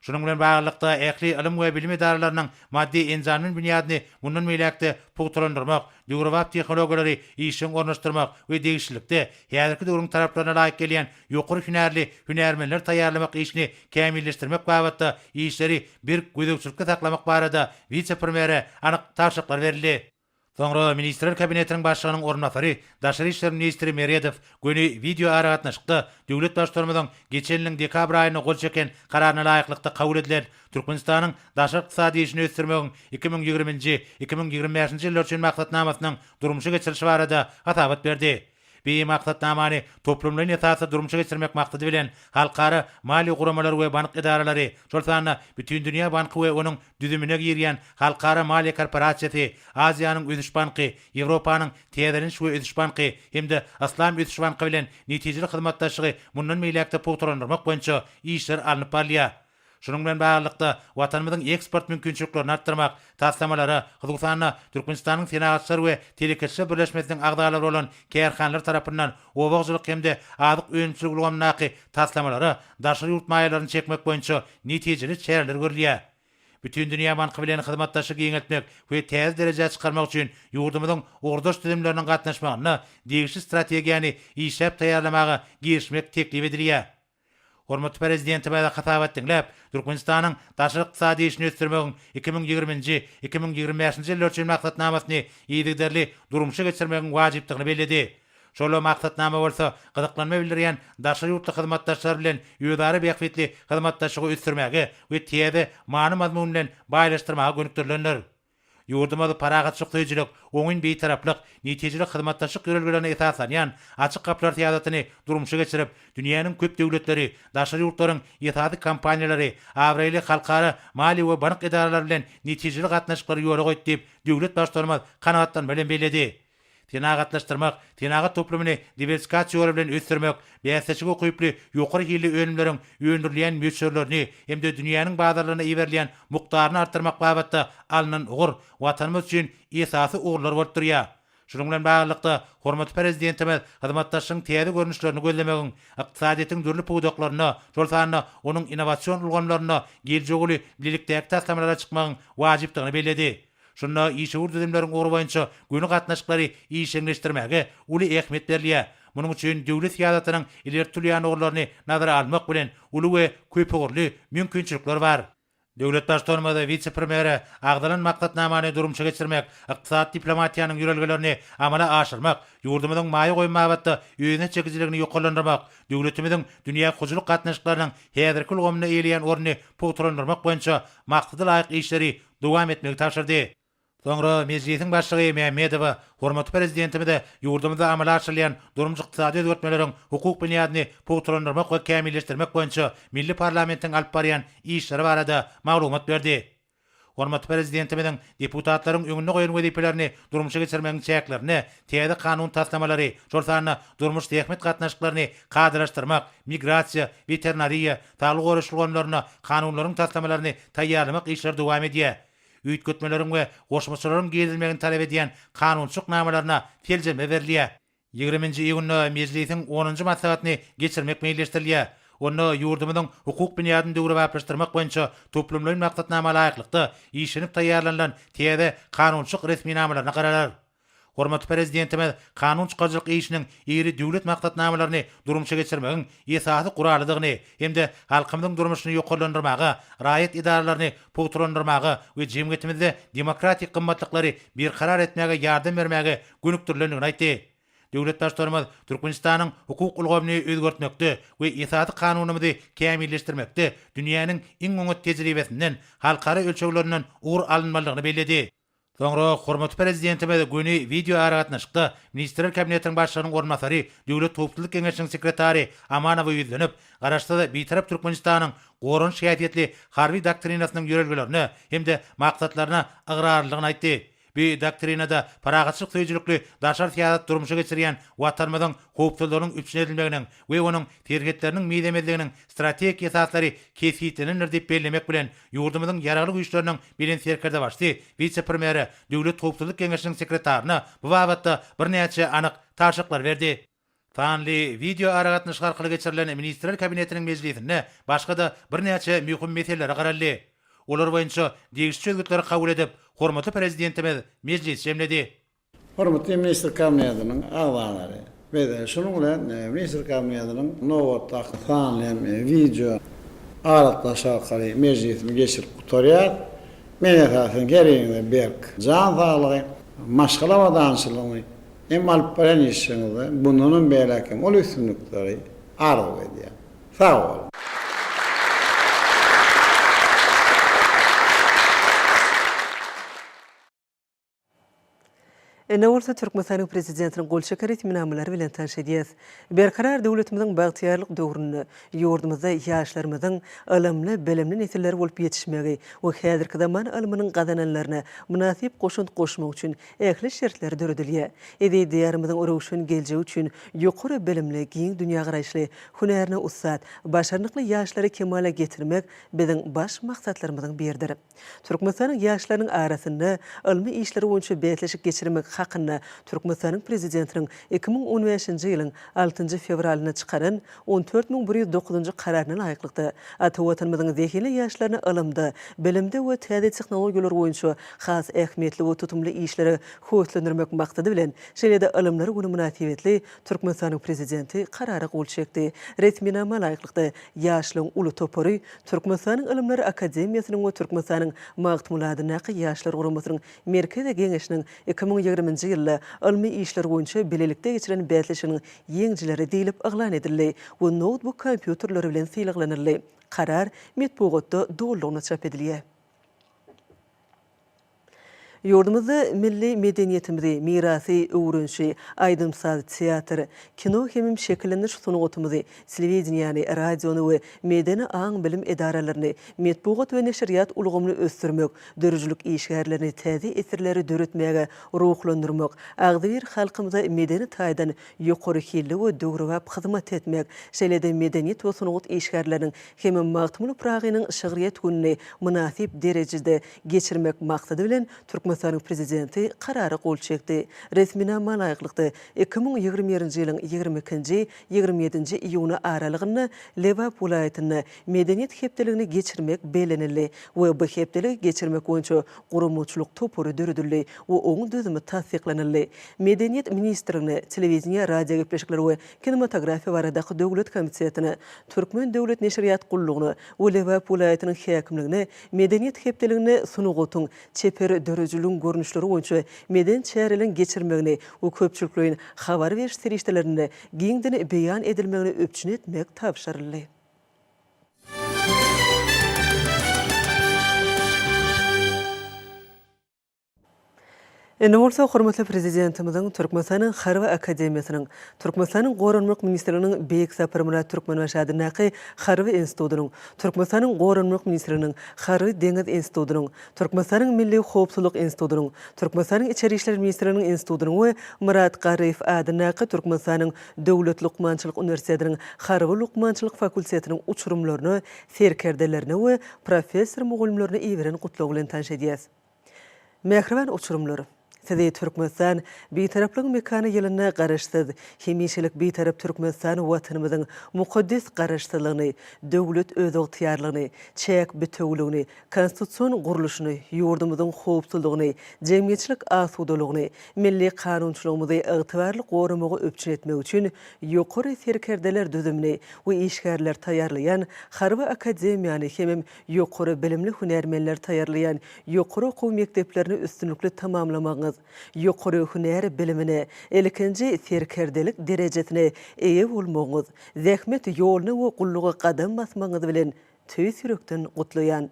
S2: Şunuň bilen baglylykda, ähli ylym we bilim edaralarynyň maddy-enjamly binýadyny mundan beýläk-de pugtalandyrmak, döwrebap tehnologiýalary işjeň ornaşdyrmak we degişlilikde, häzirki döwrüň talaplaryna laýyk gelýän ýokary hünärli hünärmenler taýýarlamak işini kämilleşdirmek babatda işleri berk gözegçilikde saklamak barada wise-premýere anyk tabşyryklar berildi. Soňra Ministrler Kabinetiniň Başlygynyň orunbasary, daşary işler ministri Meredow göni wideoaragatnaşykda döwlet Baştutanymyzyň geçen ýylyň dekabr aýynda gol çeken Kararyna laýyklykda kabul edilen Türkmenistanyň daşary ykdysady işini ösdürmegiň iki müň ýigrimi nji, iki müň ýigrimi bäşinji ýyllar üçin maksatnamasynyň durmuşa geçirilişi barada hasabat berdi. Beýik Maksatnamany toplumlaýyn esasda durmuşa geçirmek maksady bilen, halkara maliýe guramalary we bank edaralary, şol sanda Bütindünýä banky we onuň düzümine girýän Halkara maliýe korporasiýasy, Aziýanyň ösüş banky, Ýewropanyň täzeleniş we ösüş banky hem-de Yslam ösüş banky bilen netijeli hyzmatdaşlygy mundan beýläk-de pugtalandyrmak boýunça işler alnyp barylýar. Şunuň bilen baglylykda, Watanymyzyň eksport mümkinçiliklerini artdyrmak, taslamalara, hususan-da, Türkmenistanyň Senagatçylar we telekeçiler birleşmesiniň agzalary bolan kärhanalar tarapyndan oba hojalyk hem-de azyk önümçilik ulgamyndaky taslamalara daşary ýurt maýalaryny çekmek boýunça netijeli çäreler görülýär. Bütindünýä banky bilen hyzmatdaşlygy giňeltmek we täze derejä çykarmak üçin ýurdumyzyň ugurdaş düzümleriniň gatnaşmagynda degişli strategiýany işläp taýýarlamaga girişmek teklip edilýär. Hormatly Prezidentimize hasabat diňläp, Türkmenistanyň daşary ykdysady işini ösdürmegiň iki müň ýigrimi nji, iki müň ýigrimi bäş nji ýyllar üçin maksatnamasyny yzygiderli durmuşa geçirmegiň wajypdygyny belledi. Şol maksatnama bolsa gyzyklanma bildirýän daşary ýurtly hyzmatdaşlar bilen özara bähbitli hyzmatdaşlygy ösdürmäge we täze many-mazmun bilen baýlaşdyrmaga gönükdirilendir. Ýurdumyz parahatçylyk söýüjilik, oňyn Bitaraplyk, netijeli hyzmatdaşlyk ýörelgelerine esaslanýan Açyk gapylar syýasatyny durmuşa geçirip, dünýäniň köp döwletleri, daşary ýurtlaryň esasy kompaniýalary, abraýly halkara maliýe we bank edaralary bilen netijeli gatnaşyklary ýola goýdy diýip, döwlet Baştutanymyz kanagatlanma bilen belledi. Senagatlaşdyrmak, senagat toplumyny diwersikasiýa ýoly bilen ösdürmek, bäsdeşlige ukyply ýokary hilli önümleriň öndürilýän möçberlerini hem-de dünýäniň bazarlaryna iberilýän mukdaryny artdyrmak babatda alnan ugur Watanymyz üçin esasy ugurlar bolup durýar. Şunuň bilen baglylykda, hormatly Prezidentimiz hyzmatdaşlygyň täze görnüşlerini gözlemegiň, ykdysadyýetiň dürli pudaklarynda, şol sanda onuň innowasion ulgamlarynda geljegi uly bilelikdäki taslamalara çykmagyň wajypdygyny belledi. Şunda işewür düzümleriň ugry boýunça göni gatnaşyklary işjeňleşdirmäge uly ähmiýet berilýär. Munuň üçin döwlet syýasatynyň ileri tutulýan ugurlaryny nazara almak bilen, uly we köpugurly mümkinçilikler bar. Döwlet Baştutanymyz wise-premýere agzalan maksatnamany durmuşa geçirmek, ykdysady diplomatiýanyň ýörelgelerini amala aşyrmak, ýurdumyzyň maýa goýum babatda özüne çekijiligini ýokarlandyrmak, döwletimiziň dünýä hojalyk gatnaşyklarynyň häzirki ulgamynda eýeleýän ornuny pugtalandyrmak boýunça maksada laýyk işleri dowam etmegi tabşyrdy. Soňra Mejlisiň Başlygy Mämmedowa hormatly Prezidentimize ýurdumyzda amala aşyrylýan durmuş-ykdysady özgertmeleriň hukuk binýadyny pugtalandyrmak we kämilleşdirmek boýunça milli parlamentiň alyp barýan işleri barada maglumat berdi. Hormatly Prezidentimiziň deputatlaryň öňünde goýan wezipelerini durmuşa geçirmegiň çäklerinde täze kanun taslamalary, şol sanda durmuş-zähmet gatnaşyklaryny kadalaşdyrmak, migrasiýa, weterinariýa, Saglygy goraýyş ulgamlarynda kanunlaryň taslamalaryny taýýarlamak işleri dowam edýär. Üýtgetmeleriň we goşmaçalaryň girizilmegini talap edýän kanunçylyk namalaryna seljerme berilýär. Ýigrimi nji iýunda Mejlisiň onunjy maslahatyny geçirmek meýilleşdirilýär. Onda ýurdumyzyň hukuk binýadyny döwrebaplaşdyrmak boýunça toplumlaýyn maksatnama laýyklykda işlenip taýýarlanylan täze kanunçylyk resminamalaryna garalar. Hormatly Prezidentimiz kanun çykaryjylyk işiniň iri döwlet maksatnamalaryny durmuşa geçirmegiň esasy guralydygyny hem-de halkymyzyň durmuşyny ýokarlandyrmaga, raýat edaralaryny pugtalandyrmaga we jemgyýetimizde demokratik gymmatlyklary berkarar etmäge ýardam bermäge gönükdirilendigini aýtdy. Döwlet Baştutanymyz Türkmenistanyň hukuk ulgamyny özgertmekde we Esasy Kanunymyzy kämilleşdirmekde dünýäniň iň oňat tejribesinden, halkara ölçeglerinden ugur alynmalydygyny belledi. Soňra hormatly Prezidentimiz göni wideoaragatnaşykda Ministrler Kabinetiniň Başlygynyň orunbasary, Döwlet howpsuzlyk geňeşiniň sekretary Amanowa ýüzlenip, Garaşsyz, Bitarap Türkmenistanyň goranyş häsiýetli harby doktrinasynyň ýörelgelerine hem-de maksatlaryna ygrarlydygyny aýtdy. Bu doktrinada parahatçylyk söýüjilikli daşary syýasat durmuşa geçirýän Watanymyzyň howpsuzlygynyň üpjün edilmeginiň we onuň serhetleriniň mizemezliginiň strategik esaslary kesgitlenendir diýip bellemek bilen, ýurdumyzyň Ýaragly Güýçleriniň Belent Serkerdebaşysy wise-premýere, Döwlet howpsuzlyk geňeşiniň sekretaryna bu babatda birnäçe anyk tabşyklar berdi. Sanly wideoaragatnaşyk arkaly geçirilen Ministrler Kabinetiniň mejlisinde başga-da birnäçe möhüm meselelere garaldy. Olar boýunça degişli çözgütleri kabul edip, hormatly Prezidentimiz mejlisi jemledi. Hormatly
S3: ministr kabinetiniň agzalary, biz şunuň bilen ministr kabinetiniň nobatdaky sanly hem wideo aragatnaşyk arkaly mejlisini geçirip gutarýarys. Men esasan her biriňize berk jan saglygy, maşgala abadançylygyny hem alyp barýan işiňizde bundan hem beýläk hem uly üstünlikleri arzuw edýän. Sag boluň!
S1: Indi bolsa Türkmenistanyň Prezidentiniň gol çeken resminamalary bilen tanyş edýäs. Berkarar döwletimiziň bagtyýarlyk döwründe ýurdumyzda ýaşlarymyzyň ylymly, bilimli nesiller bolup ýetişmegi we häzirki zaman ylmynyň gazananlaryna mynasyp goşant goşmak üçin ähli şertler döredilýär. Eziz Diýarymyzyň röwşen geljegi üçin ýokary bilimli, giň dünýägaraýyşly, hünärine ussat, başarnykly ýaşlary kemala getirmek biziň baş maksatlarymyzyň biridir. Türkmenistanyň ýaşlarynyň arasynda ylmy işler boýunça bäsleşik geçirmek hakynda Türkmenistanyň Prezidentiniň iki müň on bäşinji ýylyň altynjy fewralynda çykaran on dört müň bir ýüz dokuzynjy Kararyna laýyklykda, ata Watanymyzyň zehinli ýaşlaryny ylymda, bilimde we täze tehnologiýalar boýunça has ähmiýetli we tutumly işlere höweslendirmek maksady bilen, şeýle-de Ylymlar güni mynasybetli Türkmenistanyň Prezidenti Karara gol çekdi. Resminama laýyklykda, ýaşlaryň uly topary Türkmenistanyň Ylymlar akademiýasynyň we Türkmenistanyň Magtymguly adyndaky Ýaşlar guramasynyň Merkezi Geňeşiniň iki müň ýigrimi nji ýylda ylmy işler boýunça bilelikde geçiren bäsleşiginiň ýeňijileri diýlip yglan edildi we noutbuk kompýuterleri bilen sylaglanyldy. Karar metbugatda dolulygyna çap edilýär. Ýurdumyzda milli medeniýetimizi, mirasy, öwrenişi, aýdym-saz, teatr, kino hemem şekillendiriş sungatymyzy, telewideniýäni, radiony we medeni aň-bilim edaralaryny, metbugat we neşirýat ulgamyny ösdürmek, döredijilik işgärlerini täze eserleri döretmäge ruhlandyrmak, agzybir halkymyza medeni taýdan ýokary hilli we döwrebap hyzmat etmek, şeýle-de medeniýet we sungat işgärleriniň hem Magtymguly Pyragynyň şygryýet gününi mynasyp derejede geçirmek maksady bilen, Türkmenistanyň Prezidenti Karara gol çekdi. Resminama laýyklykda, iki müň ýigrimi birinji ýylyň ýigrimi ikinji, ýigrimi ýedinji iýuny aralygynda Lebap welaýatynda Medeniýet hepdeligini geçirmek bellenildi we bu hepdeligi geçirmek boýunça guramaçylyk topary döredildi we oň düzümi tassyklanyldy. Medeniýet ministrligine, Telewideniýe, radiogepleşikler we kinematografiýa baradaky döwlet komitetine, Türkmen döwlet neşirýat gullugyna we Lebap welaýatynyň häkimligine Medeniýet hepdeliginde sungatyň, çeper döredijiligiň görnüşleri boýunça medeni çäreleriň geçirilmegini we köpçülikleýin habar beriş serişdelerinde giňden beýan edilmegini üpjün etmek tabşyryldy. Indi bolsa hormatly Prezidentimiziň Türkmenistanyň Harby akademiýasynyň, Türkmenistanyň Goranmak ministrliginiň Beýik Saparmyrat Türkmenbaşy adyndaky Harby institutynyň, Türkmenistanyň Goranmak ministrliginiň Harby-deňiz institutynyň, Türkmenistanyň Milli howpsuzlyk institutynyň, Türkmenistanyň Içeri işler ministrliginiň institutynyň we Myrat Garryýew adyndaky Türkmenistanyň Döwlet lukmançylyk uniwersitetiniň Harby lukmançylyk fakultetiniň uçurymlaryna, serkerdelerine we professor-mugallymlaryna iberen gutlagy bilen tanyş edýäris. Mähriban uçurymlar! Sizi Türkmenistan Bitaraplygyň mekany ýylynda Garaşsyz, hemişelik Bitarap Türkmenistan Watanymyzyň mukaddes Garaşsyzlygyny, döwlet özygtyýarlygyny, çäk bitewüligini, konstitusion gurluşyny, ýurdumyzyň howpsuzlygyny, jemgyýetçilik asudalygyny, milli kanunçylygymyzy ygtybarly goramagy üpjün etmek üçin ýokary serkerdeler düzümini we işgärleri taýýarlaýan Harby akademiýany hemem ýokary bilimli hünärmenleri taýýarlaýan ýokary okuw mekdeplerini üstünlikli tamamlamagyňyz, ýokary hünär bilimine, ilkinji serkerdelik derejesine eýe bolmagyňyz, zähmet ýoluna we gulluga gadam basmagyňyz bilen tüýs ýürekden gutlaýan.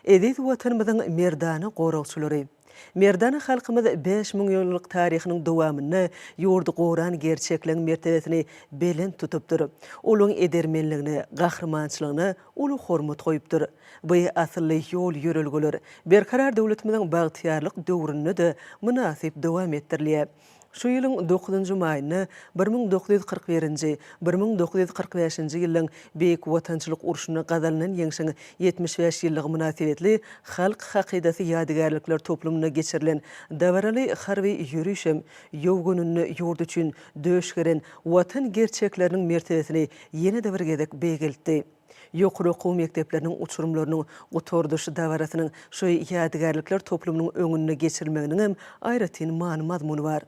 S1: Eziz Watanymyzyň merdana goragçylary! Merdana halkymyz bäş müň ýyllyk taryhynyň dowamynda ýurdy goran gerçekligiň mertebesini belent tutupdyr. Olaň edermenligine, gahrymançylygyna uly hormat goýupdyr. By asylly ýol-ýörelgeler Berkarar döwletimiziň bagtyýarlyk döwründe-de mynasyp dowam etdirilýär. Şu ýylyň dokuzynjy maýynda bir müň dokuz ýüz kyrk birinji, bir müň dokuz ýüz kyrk bäşinji ýyllaryň Beýik Watançylyk urşunda gazanylan ýeňşiň ýetmiş bäş ýyllygy mynasybetli Halk hakydasy ýadygärlikler toplumynda geçirilen dabaraly harby ýöriş hem ýow gününde ýurt üçin döş geren Watan gerçekleriniň mertebesini ýene-de bir gezek beýgeltdi. Ýokary okuw mekdepleriniň uçurymlarynyň gutardyş dabarasynyň şu ýadygärlikler toplumynyň öňünde geçirilmeginiň hem aýratyn many-mazmuny bar.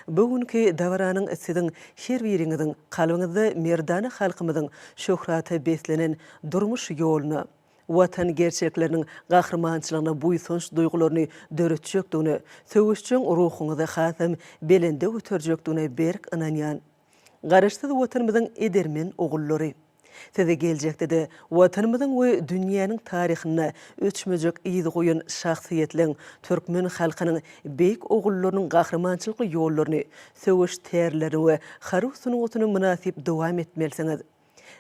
S1: Bu günki dabaranyň siziň her biriňiziň kalbyňyzda merdana halkymyzyň şöhrata beslenen durmuş ýoluna, Watan gerçekleriniň gahrymançylygyna buýsanç duýgularyny döretjekdigine, söweşjeň ruhuňyzy hasam belende göterjekdigine berk ynanýan. Garaşsyz Watanymyzyň edermen ogullary! Size geljekde-de Watanymyzyň we dünýäniň taryhynda öçmejek yz goýan şahsyýetliň, türkmen halkynyň beýik ogullarynyň gahrymançylykly ýollaryny, söweş tärlerini we harby sungatyny mynasyp dowam etmelisiňiz!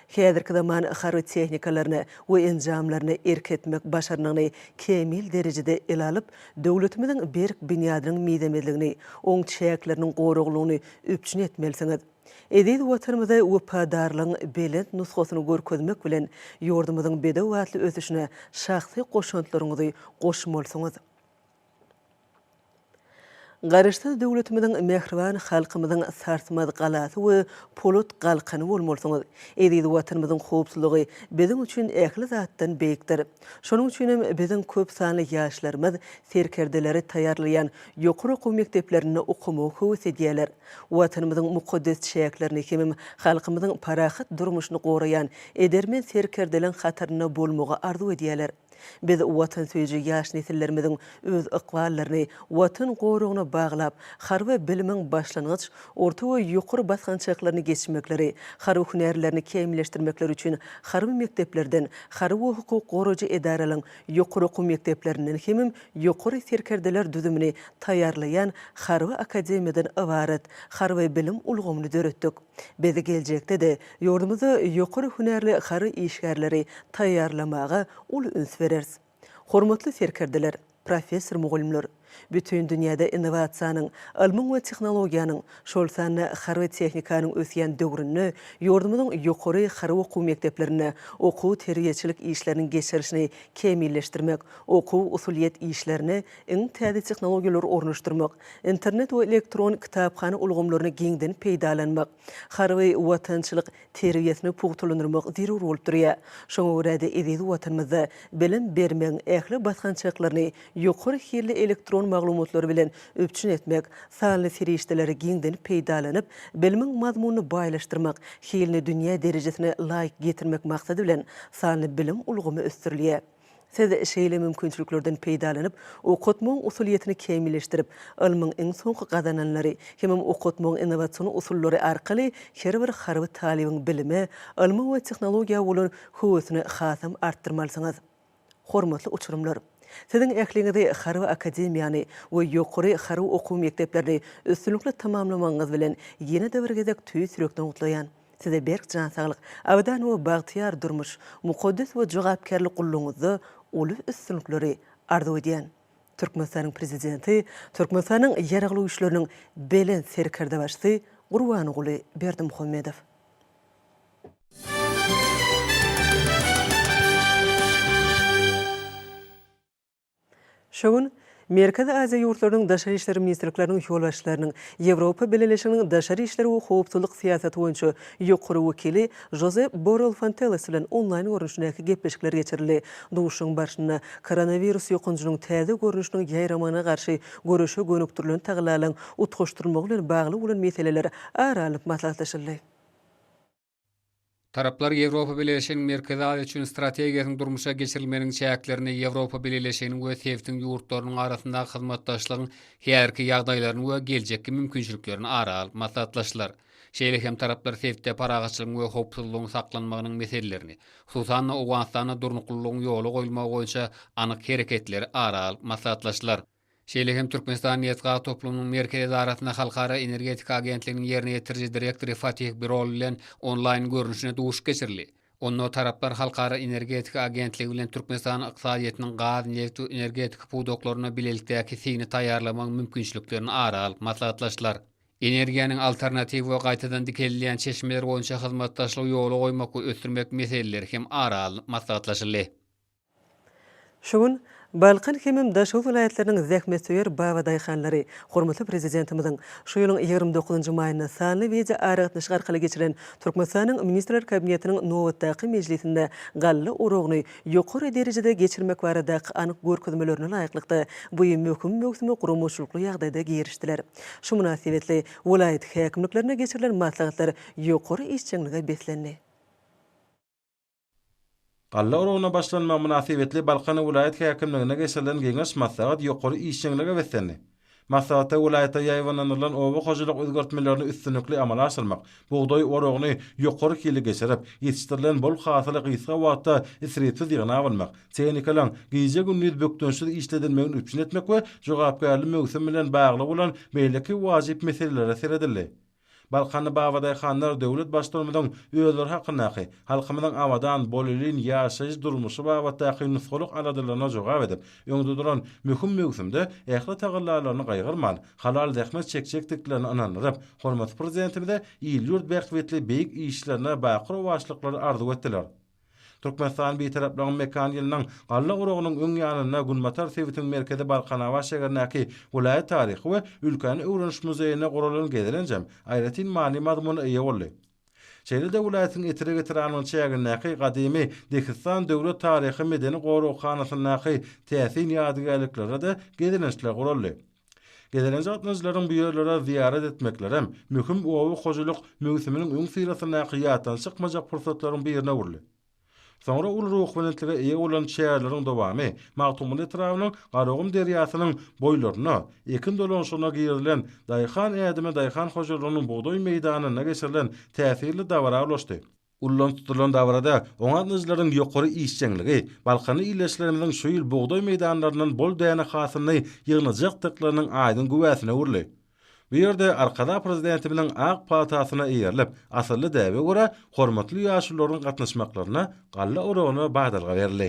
S1: Häzirki zaman harby tehnikalaryny we enjamlaryny erk etmek başarnygyny kämil derejede ele alyp, döwletimiziň berk binýadynyň mizemezligini, oň çäkleriniň goraglygyny üpjün etmelisiňiz. Eziz Watanymyza wepadarlygyň belent nusgasyny görkezmek bilen, ýurdumyzyň bedewbatly ösüşine şahsy goşantlaryňyzy goşmalysyňyz. Garaşsyz döwletimiziň, mähriban halkymyzyň sarsmaz galasy we polat galkany bolmalysyňyz. Eziz Watanymyzyň howpsuzlygy biziň üçin ähli zatdan beýikdir. Şonuň üçin hem biziň köp sanly ýaşlarymyz serkerdeleri taýýarlaýan ýokary okuw mekdeplerinde okamagy höwes edýärler. Watanymyzyň mukaddes çäklerini hemem halkymyzyň parahat durmuşyny goraýan edermen serkerdeleň hatarynda bolmagy arzuw edýärler. Biz watansöýüji ýaş nesillerimiziň öz ykballaryny Watan goragyna baglap, harby bilimiň başlangyç, orta we ýokary basgançaklaryny geçmekleri, harby hünärlerini kämilleşdirmekleri üçin harby mekdeplerden, harby we hukuk goraýjy edaralaryň ýokary okuw mekdeplerinden hemem ýokary serkerdeler düzümini taýýarlaýan harby akademiýadan ybarat harby bilim ulgamyny döretdik. Biz geljekde-de Ýurdumyzda ýokary hünärli harby işgärleri taýýarlamaga uly üns bereris. Hormatly serkerdeler, professor-mugallymlar! Bütin dünýäde innowasiýanyň, ylmyň we tehnologiýanyň, şol sanda harby tehnikanyň ösýän döwründe ýurdumyzyň ýokary harby okuw mekdeplerinde okuw-terbiýeçilik işleriniň geçirilişini kämilleşdirmek, okuw-usulyýet işlerine iň täze tehnologiýalary ornaşdyrmak, internet we elektron kitaphana ulgamlaryny giňden peýdalanmak, Harby watançylyk terbiýesini pugtalandyrmak zerur bolup durýar. Şoňa görä-de eziz Watanymyzda bilim bermegiň ähli basgançaklaryny ýokary hilli elektron maglumatlar bilen üpjün etmek, sanly serişdeleri giňden peýdalanyp, bilimiň mazmunyny baýlaşdyrmak, hilini dünýä derejesine laýyk getirmek maksady bilen sanly bilim ulgamy ösdürilýär. Siz şeýle mümkinçiliklerden peýdalanyp, okatmagyň usulyýetini kämilleşdirip, ylmyň iň soňky gazananlary, hemem okatmagyň innowasion usullary arkaly her bir harby talybyň bilime, ylma we tehnologiýa bolan höwesini hasam artdyrmalysyňyz. Hormatly uçurymlar! Siziň ähliňizi Harby akademiýany we ýokary harby okuw mekdeplerini üstünlikli tamamlamagyňyz bilen ýene-de bir gezek tüýs ýürekden gutlaýan. Size berk jan saglyk, abadan we bagtyýar durmuş, mukaddes we jogapkärli gullugyňyzda uly üstünlikleri arzuw edýän. Türkmenistanyň Prezidenti, Türkmenistanyň Ýaragly Güýçleriniň Belent Serkerdebaşysy Gurbanguly Berdimuhamedow. Şu gün Merkezi Aziýa ýurtlarynyň daşary işler ministrlikleriniň ýolbaşçylarynyň, Ýewropa Bileleşiginiň daşary işler we howpsuzlyk syýasaty boýunça ýokary wekili Žozep Borrell Fonteles bilen onlaýn görnüşindäki gepleşikler geçirildi. Duşuşygyň barşynda koronawirus ýokanjynyň täze görnüşiniň ýaýramagyna garşy göreşe gönükdirilen tagallalaryň utgaşdyrylmagy bilen bagly bolan meseleler ara alnyp maslahatlaşyldy.
S4: Taraplar Ýewropa Bileleşiginiň Merkezi Aziýa üçin strategiýasynyň durmuşa geçirilmeginiň çäklerini, Ýewropa Bileleşiginiň we sebtiň ýurtlarynyň arasyndaky hyzmatdaşlygyň häzirki ýagdaýlaryny we geljekki mümkinçiliklerini ara alyp maslahatlaşdylar. Şeýle hem taraplar sebtde parahatçylygyň we howpsuzlygyň saklanmagynyň meselelerini, hususan-da, Owganystanda durnuklylygyň ýola goýulmagy boýunça anyk hereketleri ara alyp maslahatlaşdylar. Şeýle hem Türkmenistan nebit-gaz toplumynyň Merkezi edarasynda Halkara energetika agentliginiň ýerine ýetiriji direktory Fatih Birol bilen onlaýn görnüşine duşuş geçirildi. Onda taraplar Halkara energetika agentligi bilen Türkmenistanyň ykdysadyýetiniň gaz, nebit we energetika pudaklarynda bilelikdäki signi taýýarlamagyň mümkinçiliklerini ara alyp maslahatlaşdylar. Energiýanyň alternatiw we gaýtadan dikeldilýän çeşmeleri boýunça hyzmatdaşlygy ýola goýmak we ösdürmek meseleleri hem ara alnyp maslahatlaşyldy.
S1: Şu gün Balkan hemem Daşoguz welaýatlarynyň zähmetsöýer babadaýhanlary hormatly Prezidentimiziň şu ýylyň ýigrimi dokuzynjy maýynda sanly wideoaragatnaşyk arkaly geçiren Türkmenistanyň Ministrler Kabinetiniň nobatdaky mejlisinde galla oragyny ýokary derejede geçirmek baradaky anyk görkezmelerine laýyklykda bu möhüm möwsüme guramaçylykly ýagdaýda girişdiler. Şu mynasybetli welaýat häkimliklerinde geçirilen maslahatlar ýokary işjeňlige beslendi.
S5: Galla oragyna başlanma mynasybetli Balkan welaýat häkimliginde geçirilen geňeş-maslahat ýokary işjeňlige beslendi. Maslahatda welaýatda ýaýbaňlandyrylan oba hojalyk özgertmelerini üstünlikli amala aşyrmak, bugdaý oragyny ýokary hili geçirip, ýetişdirilen bol hasyly gysga wagtda isripsiz ýygnap almak, tehnikalaryň gije-gündiz bökdençsiz işledilmegini üpjün etmek we jogapkärli möwsüm bilen bagly bolan beýleki wajyp meselelere seredildi. Balkanly Babadaý hanlar döwlet Baştutanymyzyň özleri hakyndaky, halkymyzyň abadan, bolelin ýaşaýyş-durmuşy babatdaky nusgalyk aladalaryna jogap edip, öňde duran möhüm möwsümde ähli tagallalaryny gaýgyrman, halal zähmet çekjekdiklerine ynandyryp, hormatly Prezidentimize il-ýurt bähbitli beýik işlerine baky rowaçlyklary arzuw etdiler. Türkmenistan Bitaraplygyň mekan ýylynyň galla oragynyň öň ýanynda Günbatar sebitiň merkezi Balkanabat şägerindäki welaýat taryhy we ülkäni öwreniş muzeýinde guralan gezelenjem aýratyn many-mazmuna eýe boldy. Şeýle-de welaýatyň Etrek etrabynyň çägindäki gadymy Dehistan döwlet taryhy-medeni goraghanasyndaky täsin ýadygärliklere-de gezelençler guraldy. Gezelenç gatnaýjylaryň bu ýerlere zyýarat etmeklerem möhüm oba hojalyk möwsüminiň öňüsyrasyndaky ýatdan çykmajak pursatlaryň birine öwrüldi. Soňra uly ruhubelentlige eýe bolan çäreleriň dowamy Magtymguly etrabynyň Garagum derýasynyň boýlarynda ekin dolanyşygyna girizilen Daýhan ädimi daýhan hojalygynyň bugdaý meýdanynda geçirilen täsirli dabara ulaşdy. Ullaryň tutulan dabarada oňaryjylaryň ýokary işjeňligi, balkanly ildeşlerimiziň şu ýyl bugdaý meýdanlaryndan bol däne hasylyny ýygnajakdyklarynyň aýdyň güwäsine öwrüldi. Bu ýerde Arkadag Prezidentimiziň ak palasasyna eýerilip, asylly däbe görä, hormatly ýaşulularyň gatnaşmaklaryna galla oragyna badalga berildi.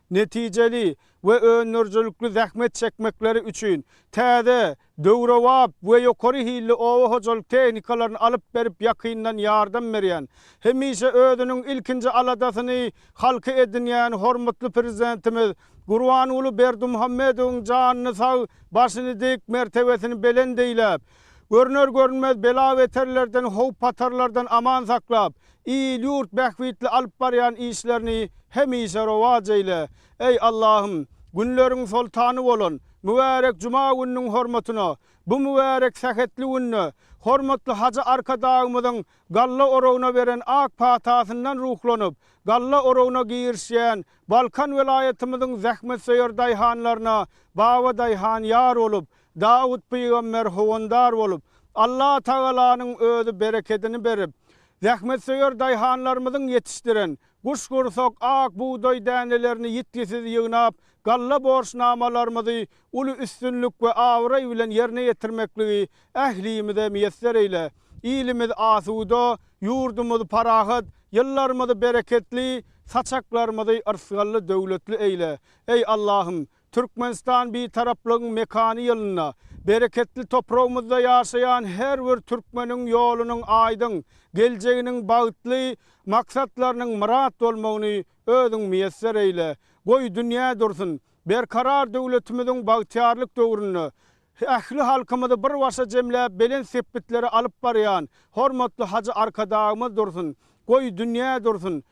S6: netijeli we öndürijilikli zähmet çekmekleri üçin täze, döwrebap we ýokary hilli oba hojalyk tehnikalaryny alyp berip ýakyndan ýardam berýän, hemişe özüniň ilkinji aladasyny halky edinýän hormatly Prezidentimiz Gurbanguly Berdimuhamedowyň janyny sag, başyny dik, mertebesini belent eýläp, görner-görünmez bela-beterlerden, howp-hatarlardan aman saklap, Il-ýurt bähbitli alyp barýan işlerini hemişe rowaç eýle, eý, Allahym! Günleriň soltany bolan mübärek juma gününiň hormatyna bu mübärek sähetli günde hormatly Hajy Arkadagymyzyň galla oragyna beren ak patasyndan ruhlanyp, galla oragyna girişýän Balkan welaýatymyzyň zähmetsöýer daýhanlaryna Babadaýhan ýar bolup, Dawut pygamber howandar bolup, Allatagalanyň özi berekedini berip, zähmetsöýer daýhanlarymyzyň ýetişdiren guşgursak ak bugdaý dänelerini ýitgisiz ýygnap, galla borçnamalarymyzy uly üstünlik we abraý bilen ýerine ýetirmekligi ählimize miýesser eýle. Ilimiz asuda, ýurdumyz parahat, ýyllarymyzy bereketli, saçaklarymyzy yrsgally-döwletli eýle. Eý, Allahym, Türkmenistan Bitaraplygyň mekany ýylynda bereketli topragymyzda ýaşaýan her bir türkmeniň ýolunyň aýdyň, geljeginiň bagtly, maksatlarynyň myrat bolmagyny Özüň miýesser eýle! Goý, dünýä dursun! Berkarar döwletimiziň bagtyýarlyk döwründe ähli halkymyzy bir başa jemläp belent sepgitlere alyp barýan hormatly Hajy Arkadagymyz dursun! Goý, dünýä dursun!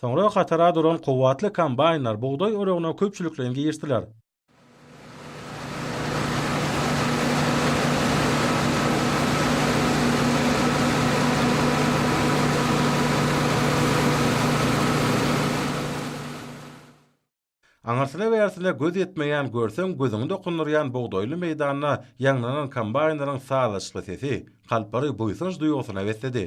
S5: Soňra hatara duran kuwwatly kombaýnlar bugdaý oragyna köpçülikleýin girişdiler. Aňyrsine-bersine göz ýetmeýän görseň gözüňi dokundyrýan bugdaýly meýdanda ýaňlanan kombaýnlaryň sazlaşykly sesi Kalpary buýsanç duýgusyna besledi.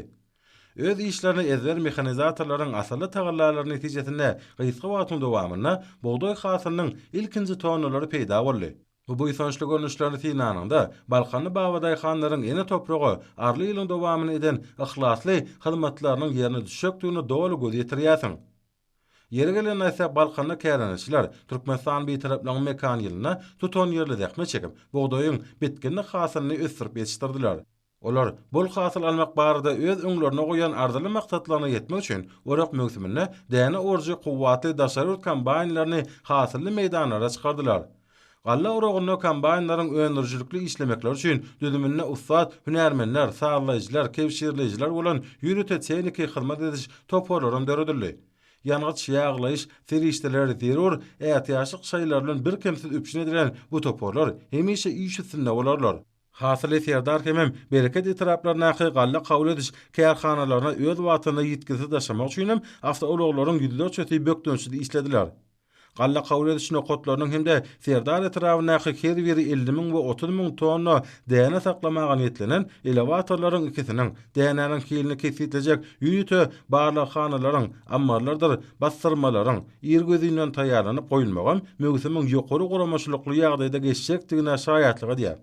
S5: Öz işlerini ezber mehanizatorlaryň asylly tagallalary netijesinde gysga wagtyň dowamynda bugdaý hasylynyň ilkinji tonnalary peýda boldy. Bu buýsançly görnüşlerini synanyňda, balkanly babadaýhanlaryň ene topraga arly ýylyň dowamyny eden yhlasly hyzmatlarynyň ýerine düşjekdigine doly göz ýetirýärsiň. Ýeri gelende aýtsak, Balkanda kärendeçiler Türkmenistan Bitaraplygyň mekan ýylynda tutanýerli zähmet çekip, bugdaýyň, bitginlik hasylyny ösdürip ýetişdirdiler. Olar bol hasyl almak barada öz öňlerine goýan arzyly maksatlaryna ýetmek üçin orak möwsüminde däne orujy kuwwatly daşary ýurt kombaýnlaryny hasylly meýdanlara çykardylar. Galla oragynda kombaýnlaryň öndürijilikli işlemekleri üçin düzüminde ussat hünärmenler, sazlaýjylar, kebşirleýjiler bolan ýörite tehniki hyzmat ediş toparlaram döredildi. Ýangyç, ýaglaýyş serişdeleri zerur ätiýaçlyk şaýlary bilen birkemsiz üpjün edilen bu toparlar hemişe iş üstünde bolarlar. Hasyly Serdar hemem Bereket etraplaryndaky galla kabul ediş kärhanalaryna öz wagtynda ýitgisiz daşamak üçinem awtoulaglaryň ýüzlerçesi bökdençsiz işlediler. Galla kabul ediş nokatlarynyň hem-de Serdar etrabyndaky her biri elli müň we otuz müň tonna däne saklamaga niýetlenen elewatorlaryň ikisiniň, dänäniň hilini kesgitlejek ýörite barlaghanalaryň, ammarlardyr bassyrmalaryň, irgözinden taýýarlanyp goýulmagam möwsümiň ýokary guramaçylykly ýagdaýda geçjekdigine şaýatlyk edýär.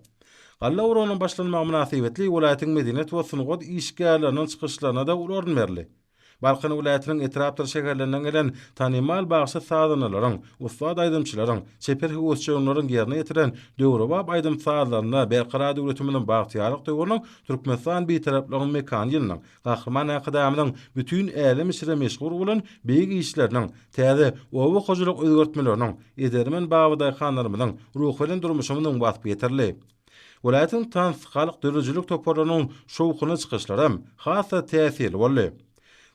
S5: Galla oragynyň başlanmagy mynasybetli welaýatyň medeniýet we sungat işgärleriniň çykyşlaryna-da uly orun berildi. Balkan welaýatynyň etrapdyr şäherlerinden gelen tanymal bagşy-sazandalaryň, ussat aýdymçylaryň, çeper höwesjeňleriň ýerine ýetiren döwrebap aýdym-sazlarynda Berkarar döwletimiziň bagtyýarlyk döwrüniň Türkmenistan Bitaraplygyň mekany ýylynyň, Gahryman Arkadagymyzyň bütin älem içre meşhur bolan beýik işleriniň, täze oba hojalyk özgertmeleriniň, edermen babadaýhanlarymyzyň, ruhubelent durmuşymyzyň waspy ýetirildi. Welaýatyň tans, halk döredijilik toparlarynyň şowhunly çykyşlary has-da täsirli boldy.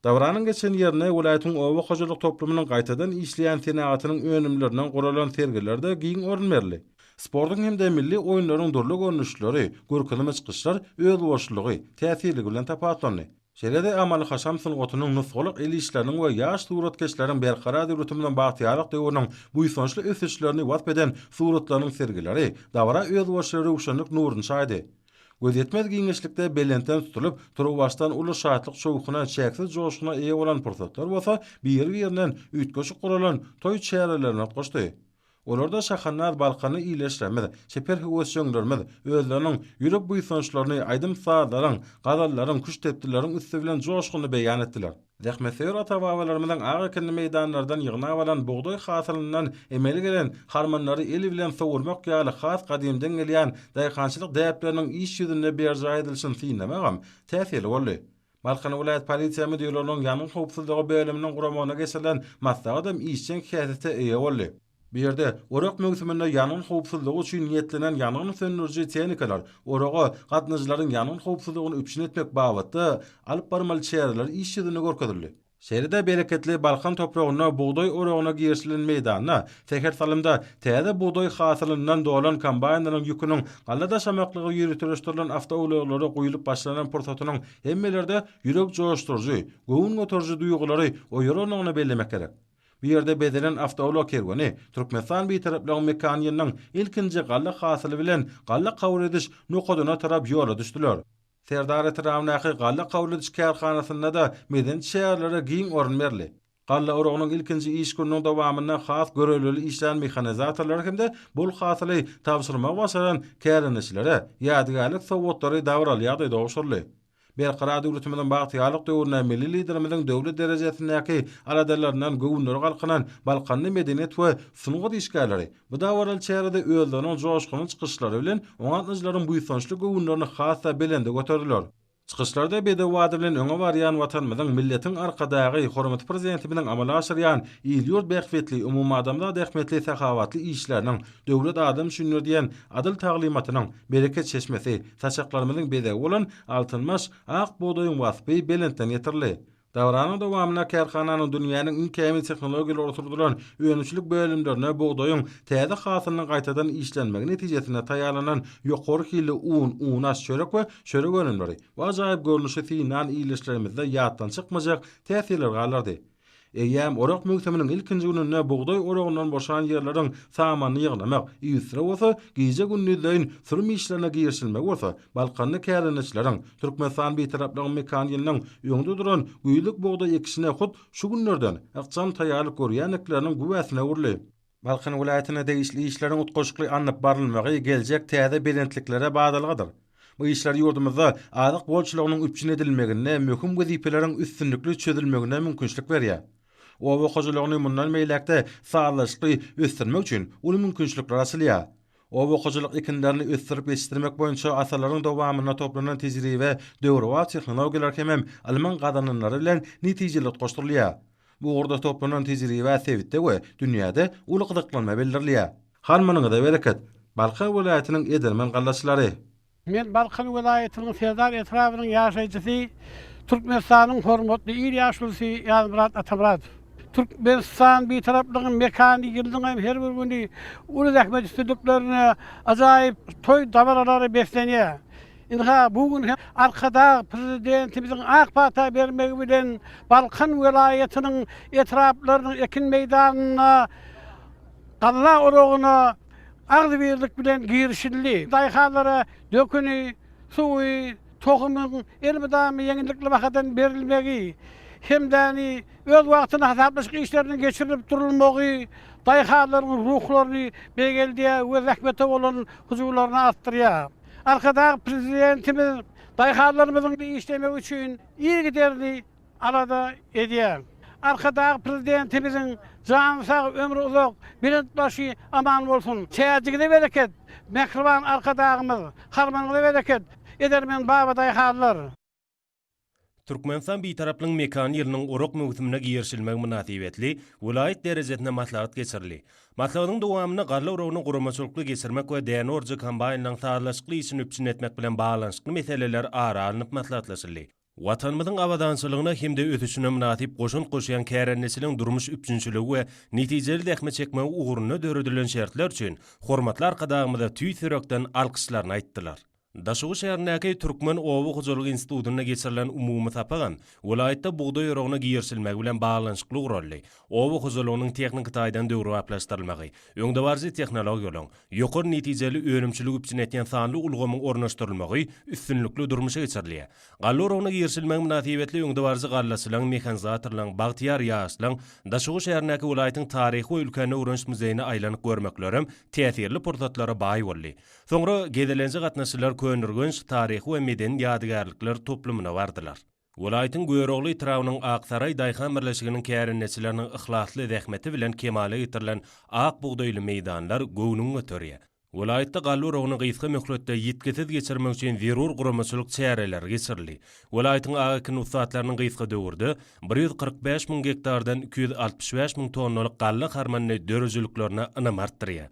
S5: Dabaranyň geçen ýerine welaýatyň oba hojalyk toplumynyň gaýtadan işleýän senagatynyň önümlerinden guralan sergilerde giň orun berildi. Sportuň hem-de milli oýunlaryň dürli görnüşleri, görkezme çykyşlar özboşlulygy, täsirligi bilen tapawutlandy. Şeýle-de amaly-haşam sungatynyň, nusgalyk el işleriniň we ýaş suratkeşleriň berkarar döwletimiz bilen bagtyýarlyk döwrüniň buýsançly ösüşlerini wasp eden suratlarynyň sergileri dabara özboluşly röwşenlik nuruny çaýdy. Gözýetmez giňişlikde belentden tutulyp, turuwbaşdan uly şatlyk-şowhuna, çäksiz joşguna eýe bolan pursatlar bolsa biri-birinden üýtgeşik guralan toý çärelerine utgaşdy. Olarda şahandaz balkanly ildeşlerimiz, çeper höwesjeňlerimiz özleriniň ýürek buýsançlaryny aýdym-sazlaryň, gazallaryň, küştdepdilleriň üsti bilen joşgunly beýan etdiler. Zähmetsöýer ata-babalarymyzyň ak ekinli meýdanlardan ýygnap alan bugdaý hasylyndan emele gelen harmanlary el bilen sowurmak ýaly has gadymdan gelýän daýhançylyk däpleriniň iş ýüzünde berjaý edilişini synlamagam täsirli boldy. Balkan welaýat polisiýa müdirliginiň ýangyn howpsuzlygy bölüminiň guramagynda geçirilen maslahatam işjeň häsiýete eýe boldy. Bu ýerde orak möwsüminde ýangyn howpsuzlygy üçin niýetlenen ýangyn söndüriji tehnikalar, oraga gatnaýjylaryň ýangyn howpsuzlygyny üpjün etmek babatda alyp barmaly çäreler iş ýüzünde görkezildi. Şeýle-de bereketli Balkan topragynda bugdaý oragyna girişilen meýdanda säher salymda täze bugdaý hasylyndan dolan kombaýnlaryň ýüküniň galla daşamaklygy ýöriteleşdirilen awtoulaglara guýlup başlanan pursatynyň hemmelerde ýürek joşduryjy, göwün göteriji duýgulary oýarandygyny bellemek gerek. Bu ýerde bezelen awtoulag kerweni Türkmenistan Bitaraplygyň mekanynyň ilkinji galla hasyly bilen galla kabul ediş nokadyna tarap ýola düşdüler. Serdar etrabyndaky galla kabul ediş kärhanasynda-da medeni çärelere giň orun berildi. Galla oragynyň ilkinji iş gününiň dowamynda has görelgeli işleýän mehanizatorlara hem-de bol hasyly tabşyrmagy başaran kärendeçilere ýadygärlik sowgatlary dabaralýaday gowşuryldy. Berkarar döwletimiziň bagtyýarlyk döwründe milli Liderimiziň döwlet derejesindäki aladalaryndan göwünleri galkynan balkanly medeniýet we sungat işgärleri, Bu dabaraly çärede özleriniň joşgunly çykyşlary bilen oňa gatnaýjylaryň buýsançly göwünlerini has-da belende göterdiler. Çykyşlarda bedew ady bilen öňe barýan Watanymyzyň, milletiň Arkadagy, hormatly Prezidentimiziň amala aşyrýan il-ýurt bähbitli, umumadamzat ähmiýetli sahawatly işleriniň, Döwlet adam üçindir! diýen adyl taglymatynyň, bereket çeşmesi, saçaklarymyzyň bezegi bolan Altyn baş, ak bugdaýyň waspy belentden ýetirildi. Dabaranyň dowamynda kärhananyň dünýäniň iň kämil tehnologiýalary oturdylan önümçilik bölümlerine bugdaýyň täze hasylynyň gaýtadan işlenmegi netijesinde taýýarlanan ýokary hilli un, unaş, çörek we çörek önümleri we ajaýyp görnüşi siý nan ilişlerimizde ýatdan çykmajak täsirler galdyrdy. Eýýäm orak möwsüminiň ilkinji gününde bugdaý oragyndan boşan ýerleriň samanyny ýygnamak, üstüne bolsa gije-gündizleýin sürüm işlerine girişilmegi bolsa balkanly kärendeçileriň, Türkmenistan Bitaraplygyň mekan ýylynyň öňde duran güýzlük bugdaý ekişine hut şu günlerden ykjam taýýarlyk görýändikleriniň güwäsine öwrüldi. Balkan welaýatynda degişli işleriň utgaşykly alnyp barylmagy geljek täze belentliklere badalgadyr. Bu işler ýurdumyzda azyk bolçulygynyň üpjün edilmeginde möhüm wezipeleriň üstünlikli çözülmegine mümkinçilik berýär. Oba hojalygyny mundan beýläk-de sazlaşykly ösdürmek üçin uly mümkinçilikler açylýar. Oba-hojalyk ekinlerini ösdürip ýetişdirmek boýunça asyrlaryň dowamynda toplanan tejribe, döwrebap tehnologiýalar hemem ylmyň gazananlary bilen netijeli utgaşdyrylýar. Bu ugurda toplanan tejribä sebitde we dünýäde uly gyzyklanma bildirilýär. Hal munyňyza bereket! Balkan welaýatynyň edermen gallaçylary. Men Balkan
S7: welaýatynyň Serdar etrabynyň ýaşaýjysy, Türkmenistanyň hormatly il ýaşulusy Ýazmyrat Atamyradow. Türkmenistan Bitaraplygyň mekany ýylyňam her bir güni uly zähmet üstünliklerine, ajaýyp toý dabaralara beslenýär. Ynha, bu gün hem Arkadag Prezidentimiziň ak pata bermegi bilen Balkan welaýatynyň etraplarynyň ekin meýdanynda, Galla oragyna agzybirlik bilen girişildi. Daýhanlara döküni, suwy, tohumyň elmydama ýeňillikli bahadan berilmegi, hemdäni öz wagtynda hasaplaşyk işleriniň geçirilip durulmagy daýhanlaryň ruhlaryny beýgeldýär we zähmete bolan hyjuwlaryny artdyrýar. Arkadag Prezidentimiz daýhanlarymyzyň işlemegi üçin yzygiderli alada edýän. Arkadag Prezidentimiziň jany sag, ömri uzak, belent başy aman bolsun! Täjigize bereket, mähriban Arkadagymyz! Harmanyňyza bereket, edermen babadaýhanlar!
S8: Türkmenistan Bitaraplygyň mekany ýylynyň orak möwsümine girişilmegi mynasybetli welaýat derejesinde maslahat geçirildi. Maslahatyň dowamynda galla oragyny guramaçylykly geçirmek we däne orujy kombaýnlaryň sazlaşykly işini üpjün etmek bilen baglanyşykly meseleler ara alnyp maslahatlaşyldy. Watanymyzyň abadançylygyna hem-de ösüşine mynasyp goşant goşýan kärendeçiligiň durmuş üpjünçiligi we netijeli zähmet çekmegi ugrunda döredilen şertler üçin hormatly Arkadagymyza tüýs ýürekden alkyşlaryny aýtdylar. Daşoguz şäherindäki Türkmen oba hojalygy institutynda geçirilen umumy sapagam welaýatda bugdaý oragyna girişilmegi bilen baglanyşykly guraldy, oba hojalygynyň tehniki taýdan döwrebaplaşdyrylmagy, öňdebaryjy tehnologiýalaryň, ýokary netijeli önümçiligi üpjün edýän sanly ulgamyň ornaşdyrylmagy üstünlikli durmuşa geçirilýär. Galla oragyna girişilmegi mynasybetli öňdebaryjy gallaçylaryň, mehanizatorlaryň, bagtyýar ýaşlaryň, Daşoguz şäherindäki welaýatyň taryhy we ülkäni öwreniş muzeýine aýlanyp görmeklerem täsirli pursatlara baý boldy. Soňra gezelenje gatnaşyjylar Köneürgenç taryhy we medeni ýadygärlikler toplumyna bardylar. Welaýatyň Görogly etrabynyň Aksaraý daýhan birleşiginiň kärendeçileriniň yhlasly zähmeti bilen kemala getirilen ak bugdaýly meýdanlar göwnüňi göterýär. Welaýatda galla oragyny gysga möhletde ýitgisiz geçirmek üçin zerur guramaçylyk çäreleri geçirildi. Welaýatyň ak ekin ussatlarynyň gysga döwürde bir ýüz kyrk bäş müň gektardan iki ýüz altmyş bäş müň tonnalyk galla harmanyny döredijiliklerine ynamy artdyrýar.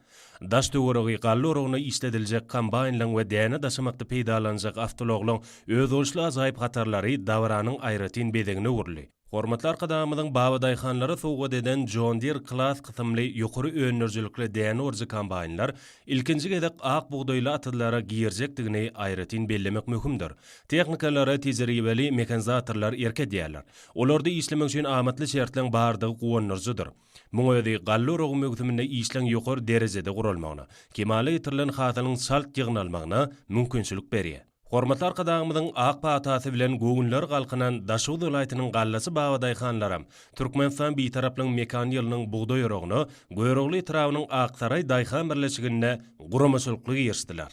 S8: Daş-töweregi galla oragyna işlediljek kombaýnlaryň we däne daşamakda peýdalanjak awtoulaglaryň özboluşly ajaýyp hatarlary dabaranyň aýratyn bezegine öwrüldi. Hormatly Arkadagymyzyň babadaýhanlara sowgat eden John Deere Class kysymly ýokary öndürijilikli däne orujy kombaýnlar ilkinji gezek ak bugdaýly atyzlara girjekdigini aýratyn bellemek möhümdir. Tehnikalara tejribeli mehanizatorlar erk edýärler. Olarda işlemek üçin amatly şertleň bardygy guwandyryjydyr. Muň özi galla uragy möwsüminde işleň ýokary derejede guralmagyna, kemala getirilen hasylyň çalt ýygnalmagyna mümkinçilik berýär. Hormatly Arkadagymyzyň ak patasy bilen göwünleri galkynan Daşoguz welaýatynyň gallaçy babadaýhanlaram Türkmenistan Bitaraplygyň mekan ýylynyň bugdaý uragyna Görogly etrabynyň Aksaraý daýhan birleşiginde guramaçylykly girişdiler.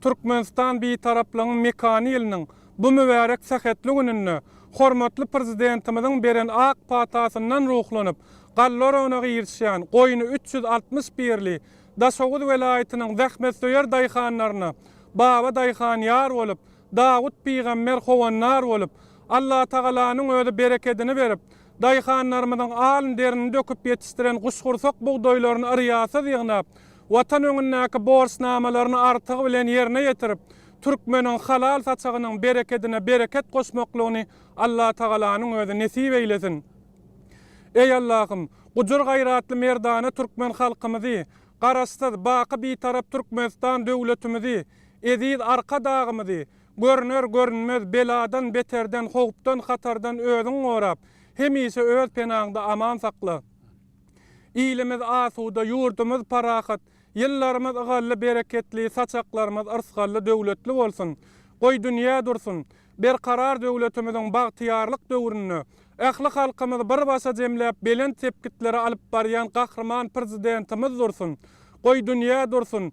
S9: Türkmenistan Bitaraplygyň mekany ýylynyň bu mübärek sähetli gününde hormatly Prezidentimiziň beren ak patasyndan ruhlanyp, galla oragyna girişýän goýny üç ýüz altmyş birli Daşoguz welaýatynyň zähmetsöýer daýhanlaryna Baba daýhan ýar bolup, Dawut pygamber howandar bolup, Allatagalanyň özi berekedini berip, Daýhanlarymyzyň alyn-derini döküp ýetişdiren guşgursak bugdaýlaryny yrýasyz ýygnap, Watan öňündäki borçnamalaryny artygy bilen ýerine ýetirip, türkmeniň halal saçagynyň berekedine bereket goşmaklygyny Allatagalanyň özi nesip eýlesin! Eý, Allahym, gujur-gaýratly merdana türkmen halkymyzy, Garaşsyz, baky Bitarap Türkmenistan döwletimizi, eziz Arkadagymyzy, Görüner, görünmez beladan, beterden, howpdan, hatardan özüň gorap, hemişe öz penaňda aman sakla. Ilimiz asuda, ýurdumyz parahat, ýyllarymyz ygally, bereketli, saçaklarymyz yrsgally, döwletli bolsun! Goý, dünýä dursun! Berkarar döwletimiziň bagtyýarlyk döwründe ähli halkymyzy bir başa jemläp, belent sepgitlere alyp barýan Gahryman Prezidentimiz dursun! Goý, dünýä dursun!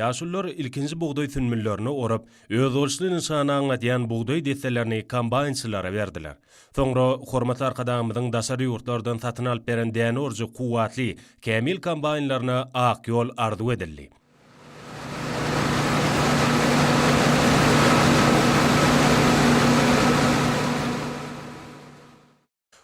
S8: Ýaşulular ilkinji bugdaý sünbüllerini orap, özboluşly nyşany aňladýan bugdaý desselerini kombaýnçylara berdiler. Soňra hormatly Arkadagymyzyň daşary ýurtlardan satyn alyp beren däne urujy kuwwatly, kämil kombaýnlaryna ak ýol arzuw edildi.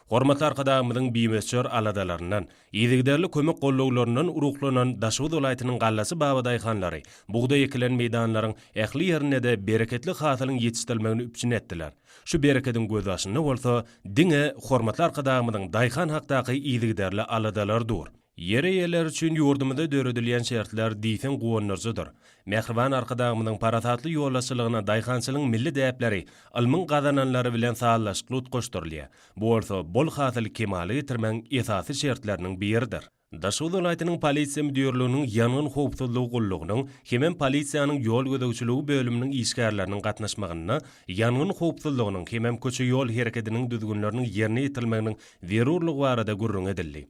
S8: Hormatly Arkadagymyzyň bimöçber aladalaryndan, yzygiderli kömek gollawlaryndan ruhlanan Daşoguz welaýatynyň Gallasy Baba daýhanlary bugdaý ekilen meýdanlaryň ähli ýerinde-de bereketli hasylyň ýetişdirilmegini üpjün etdiler. Şu berekediň gözbaşynda bolsa diňe hormatly Arkadagymyzyň daýhan hakdaky yzygiderli aladalary dur. Ýer eýeleri üçin ýurdumyzda döredilýän şertler diýseň guwandyryjydyr. Mähriban Arkadagymyzyň parasatly ýolbaşçylygynda daýhançylygyň milli däpleri ylmyň gazananlary bilen sazlaşykly utgaşdyrylýar, bu bolsa bol hasyly kemala getirmegiň esasy şertleriniň biridir. Daşoguz welaýatynyň Polisiýa müdirliginiň Ýangyn howpsuzlygy gullugynyň hemem polisiýanyň ýol gözegçiligi bölüminiň işgärleriniň gatnaşmagynda ýangyn howpsuzlygynyň hemem köçe-ýol herekediniň düzgünleriniň ýerine ýetirilmeginiň zerurlygy barada gürrüň edildi.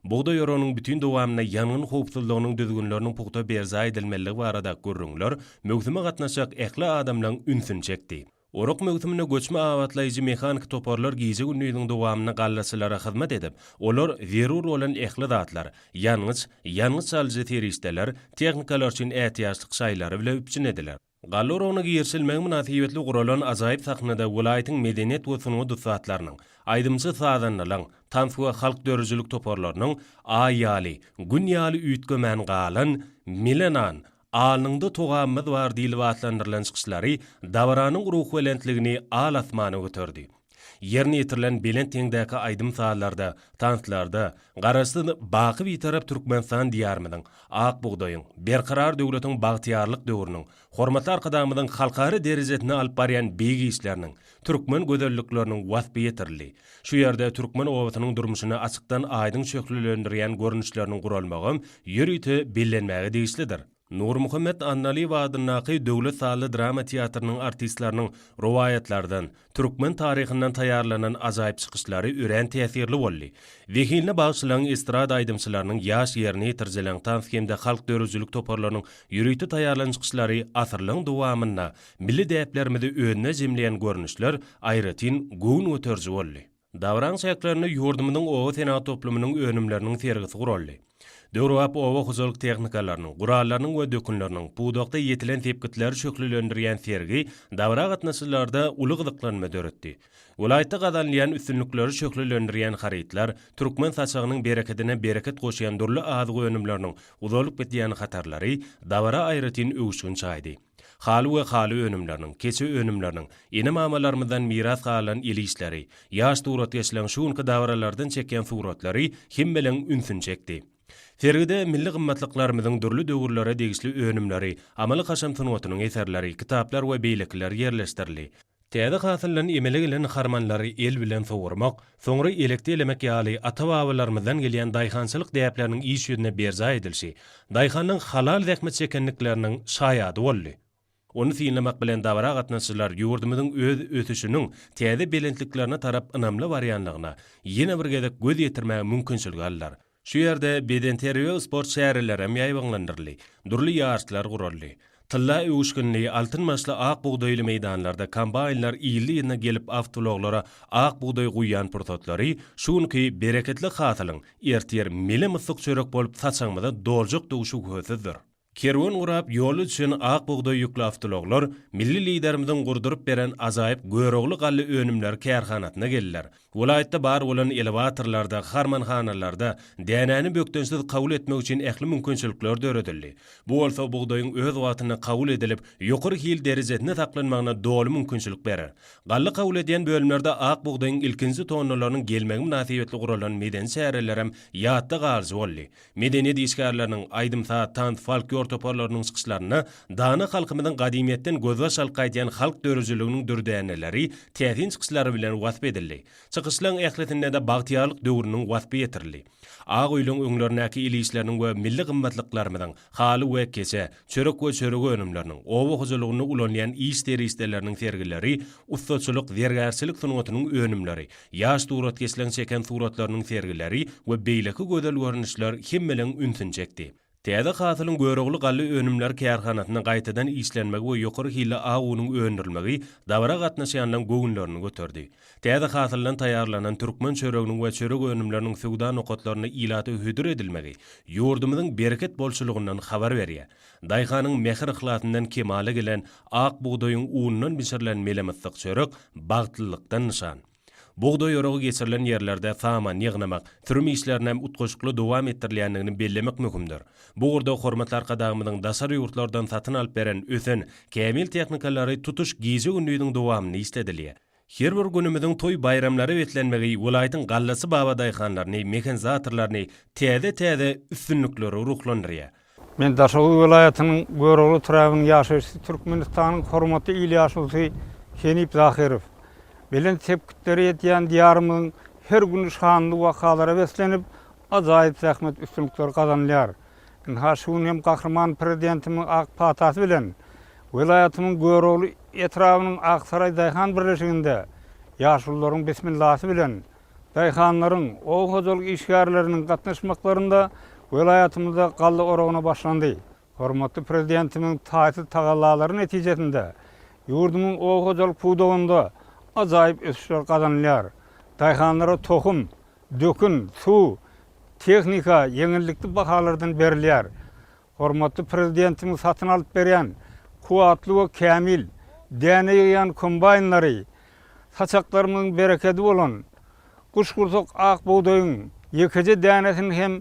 S8: Bugdaý oragynyň bütin dowamynda ýangyn howpsuzlygynyň düzgünleriniň pugta berjaý edilmeliligi barada gürrüňler möwsüme gatnaşjak ähli adamlaň ünsüni çekdi. Orak möwsüminde göçme abatlaýjy mehaniki toparlar gije-gündiziň dowamynda gallaçylara hyzmat edip, olar zerur bolan ähli zatlar, ýangyç, ýangyç alyjy serişdeler, tehnikalar üçin ätiýaçlyk şaýlary bile üpjün ediler. Galla oragyna girişilmegi mynasybetli guralan ajaýyp sahnada welaýatyň medeniýet we sungat ussatlarynyň, aýdymçy-sazandalaryň, tans we halk döredijilik toparlarynyň Aý ýaly, Gün ýaly üýtgemän galan, Mile nan, Alnyňda togamymyz bar diýlip atlandyrylan çykyşlary dabaranyň ruhubelentligini al asmana göterdi. Ýerine ýetirilen belent deňdäki aýdym-sazlarda, tanslarda Garaşsyz, baky Bitarap Türkmenistan Diýarymyzyň, ak bugdaýyň, berkarar döwletiň bagtyýarlyk döwrüniň, hormatly Arkadagymyzyň halkara derejesinde alyp barýan beýik işleriniň, türkmen gözellikleriniň waspy ýetirildi. Şu ýerde türkmen obasynyň durmuşyny açykdan-aýdyň şöhlelendirýän görnüşleriniň guralmagam ýörite bellenmäge degişlidir. Nurmuhammet Annalyýew adyndaky Döwlet sazly drama teatrynyň artistleriniň rowaýatlardan, türkmen taryhyndan taýýarlanan ajaýyp çykyşlary örän täsirli boldy. Zehinli bagşylaryň, estrada aýdymçylarynyň, ýaş ýerine ýetirijileriň, tans hem-de halk döredijilik toparlarynyň ýörite taýýarlan çykyşlary asyrlaryň dowamynda milli däplerimizi özünde jemleýän görnüşler aýratyn göwün göteriji boldy. Dabaraň çäklerinde ýurdumyzyň oba senagat toplumynyň önümleriniň sergisi guraldy. Döwrebap oba hojalyk tehnikalarynyň, gurallarynyň we dökünleriniň, pudakda ýetilen sepgitleri şöhlelendirýän sergi dabara gatnaşyjylarda uly gyzyklanma döretdi. Welaýatda gazanylýan üstünlikleri şöhlelendirýän harytlar, türkmen saçagynyň berekedine bereket goşýan dürli azyk önümleriniň uzalyp gidýän hatarlary dabara aýratyn öwüşgin çaýdy. Haly we haly önümleriniň, keçe önümleriniň, ene-mamalarymyzdan miras galan el işleri, ýaş suratkeşleriň şu günki dabaralardan çekýän suratlary hemmeleň ünsüni çekdi. Sergide milli gymmatlyklarymyzyň dürli döwürlere degişli önümleri, amaly-kaşaň sungatynyň eserleri, kitaplar we beýlekiler ýerleşdirildi. Täze hasyldan emele gelen harmanlary el bilen sowurmak, soňra elekde elemek ýaly ata-babalarymyzdan gelýän daýhançylyk däpleriniň iş ýüzünde berjaý edilişi daýhanyň halal zähmet çekendikleriniň şaýady boldy. Ony synlamak bilen dabara gatnaşyjylar ýurdumyzyň öz ösüşiniň täze belentliklerine tarap ynamly barýanlygyna ýene bir gezek göz ýetirmäge mümkinçilik aldylar. Şu ýerde bedenterbiýe we sport çäreleri hem ýaýbaňlandyryldy, dürli ýaryşlar guraldy. Tylla öwüşginli, altyn başly ak bugdaýly meýdanlarda kombaýnlar ýyly-ýylyna gelip awtoulaglara ak bugdaý guýýan pursatlary şu günki bereketli hasylyň ertir mele-myssyk çörek bolup saçagymyza doljakdygy şübhesizdir. Kerwen gurap, ýol üçin ak bugdaý ýükli awtoulaglar milli Liderimiziň gurduryp beren ajaýyp Görogly galla önümleri kärhanasyna geldiler. Welaýatda bar bolan elewatorlarda, harmanhanalarda dänäni bökdençsiz kabul etmek üçin ähli mümkinçilikler döredildi. Bu bolsa bugdaýyň öz wagtynda kabul edilip, ýokary hil derejesinde saklanmagyna doly mümkinçilik berer. Galla kabul edýän bölümlerde ak bugdaýyň ilkinji tonnalarynyň gelmegi mynasybetli guralan medeni çärelerem ýatda galyjy boldy. Medeniýet işgärleriniň, aýdym-saz, tans, folklor toparlarynyň çykyşlarynda dana halkymyzyň gadymyýetden gözbaş alyp gaýdýan halk döredijiliginiň dürdäneleri täsin çykyşlary bilen wasp edildi. Çykyşlaň ählisinde-de bagtyýarlyk döwrüniň waspy ýetirildi. Ak öýlüň öňlerindäki il işleriniň we milli gymmatlyklarymyzyň, haly we keçe, çörek we çörek önümleriniň, oba hojalygynda ulanýan iş serişdeleriniň sergileri, ussaçylyk, zergärçilik sungatynyň önümleri, ýaş suratkeşleň çeken suratlarynyň sergileri we beýleki gözel görnüşler hemmeleň ünsüni çekdi. Täze hasylyň Görogly galla önümleri kärhanasynda gaýtadan işlenmegi we ýokary hilli ak unuň öndürilmegi dabara gatnaşýanlaryň göwünlerini göterdi. Täze hasyldan taýýarlanan türkmen çöreginiň we çörek önümleriniň söwda nokatlarynda ilata hödür edilmegi ýurdumyzyň bereket bolçulygyndan habar berýär. Daýhanyň mähir-yhlasyndan kemala gelen ak bugdaýyň unundan bişirilen melemyssyk çörek bagtlylykdan nyşan. Bugdaý oragy geçirilen ýerlerde saman ýygnamak, sürüm işlerini hem utgaşykly dowam etdirilýändigini bellemek möhümdir. Bu ugurda hormatly Arkadagymyzyň daşary ýurtlardan satyn alyp beren ösen kämil tehnikalary tutuş gije-gündiziň dowamynda işledilýär. Her bir günümiziň toý-baýramlara beslenmegi welaýatyň Gallasy baba daýhanlaryny, mehanizatorlaryny täze-täze üstünliklere ruhlandyrýar. Men Daşoguz
S6: welaýatynyň Görogly etrabynyň ýaşaýjysy, Türkmenistanyň hormatly il ýaşulusy Henip Zahyrow. Belent sepgitlere ýetýän Diýarymyzyň her güni şanly wakalara beslenip, ajaýyp zähmet üstünlikleri gazanylýar. Ynha, şu gün hem Gahryman Prezidentimiziň ak patasy bilen welaýatymyň Görogly etrabynyň Aksaraý daýhan birleşiginde ýaşulularyň bismillasy bilen, daýhanlaryň, oba hojalyk işgärleriniň gatnaşmaklarynda welaýatymyzda galla oragyna başlandy. Hormatly Prezidentimiziň taýsyz tagallalary netijesinde ýurdumyň oba hojalyk pudagynda ajaýyp ösüşler gazanylýar. Daýhanlara tohum, Dökün, suw, tehnika ýeňillikli bahalardan berilýär. Hormatly Prezidentimiz satyn alyp berýän kuwwatly we kämil däne ýygýan kombaýnlary, saçaklarymyzyň berekedi bolan guşgursak ak bugdaýyň ýekeje dänesini hem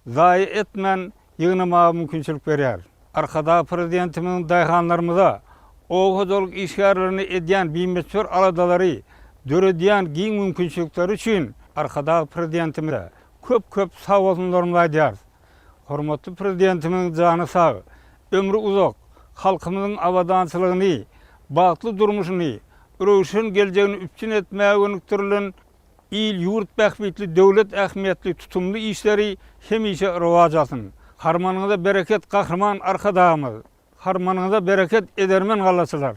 S6: zaýa etmän ýygnamaga mümkinçilik berýär. Arkadag Prezidentimiziň daýhanlarymyza, oba hojalyk işgärlerine edýän bimöçber aladalary, döredýän giň mümkinçilikleri üçin Arkadag Prezidentimize köp-köp sagbolsunlarymyzy aýdýarys. Hormatly Prezidentimiziň jany sag, ömri uzak, halkymyzyň abadançylygyny, bagtly durmuşyny, röwşen geljegini üpjün etmäge gönükdirilen Il-ýurt bähbitli döwlet ähmiýetli tutumly işleri hemişe rowaç alsyn! Harmanyňyza bereket Gahryman Arkadagymyz! Harmanyňyza bereket edermen gallaçylar!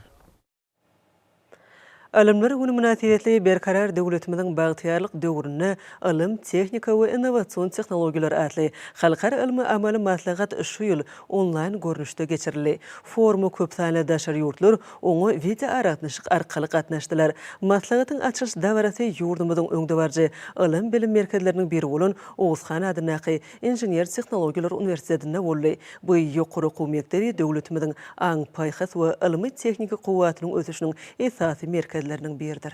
S1: Alymlar güni mynasybetli Berkarar döwletimiziň bagtyýarlyk döwründe ylym, tehnika we innowasion tehnologiýalar atly halkara ylmy-amaly maslahat şu ýyl onlaýn görnüşde geçirildi. Foruma köp sanly daşary ýurtlar, Oňa wideoaragatnaşyk arkaly gatnaşdylar. Maslahatyň açylyş dabarasy ýurdumyzyň öňdebaryjy ylym-bilim merkezleriniň biri bolan Oguzhan adyndaky Inžener-tehnologiýalar uniwersitetinde boldy. Bu ýokary okuw mekdebi döwletimiziň aň-paýhas we ylmy-tehniki kuwwatynyň ösüşiniň esasy merkezleriniň biridir.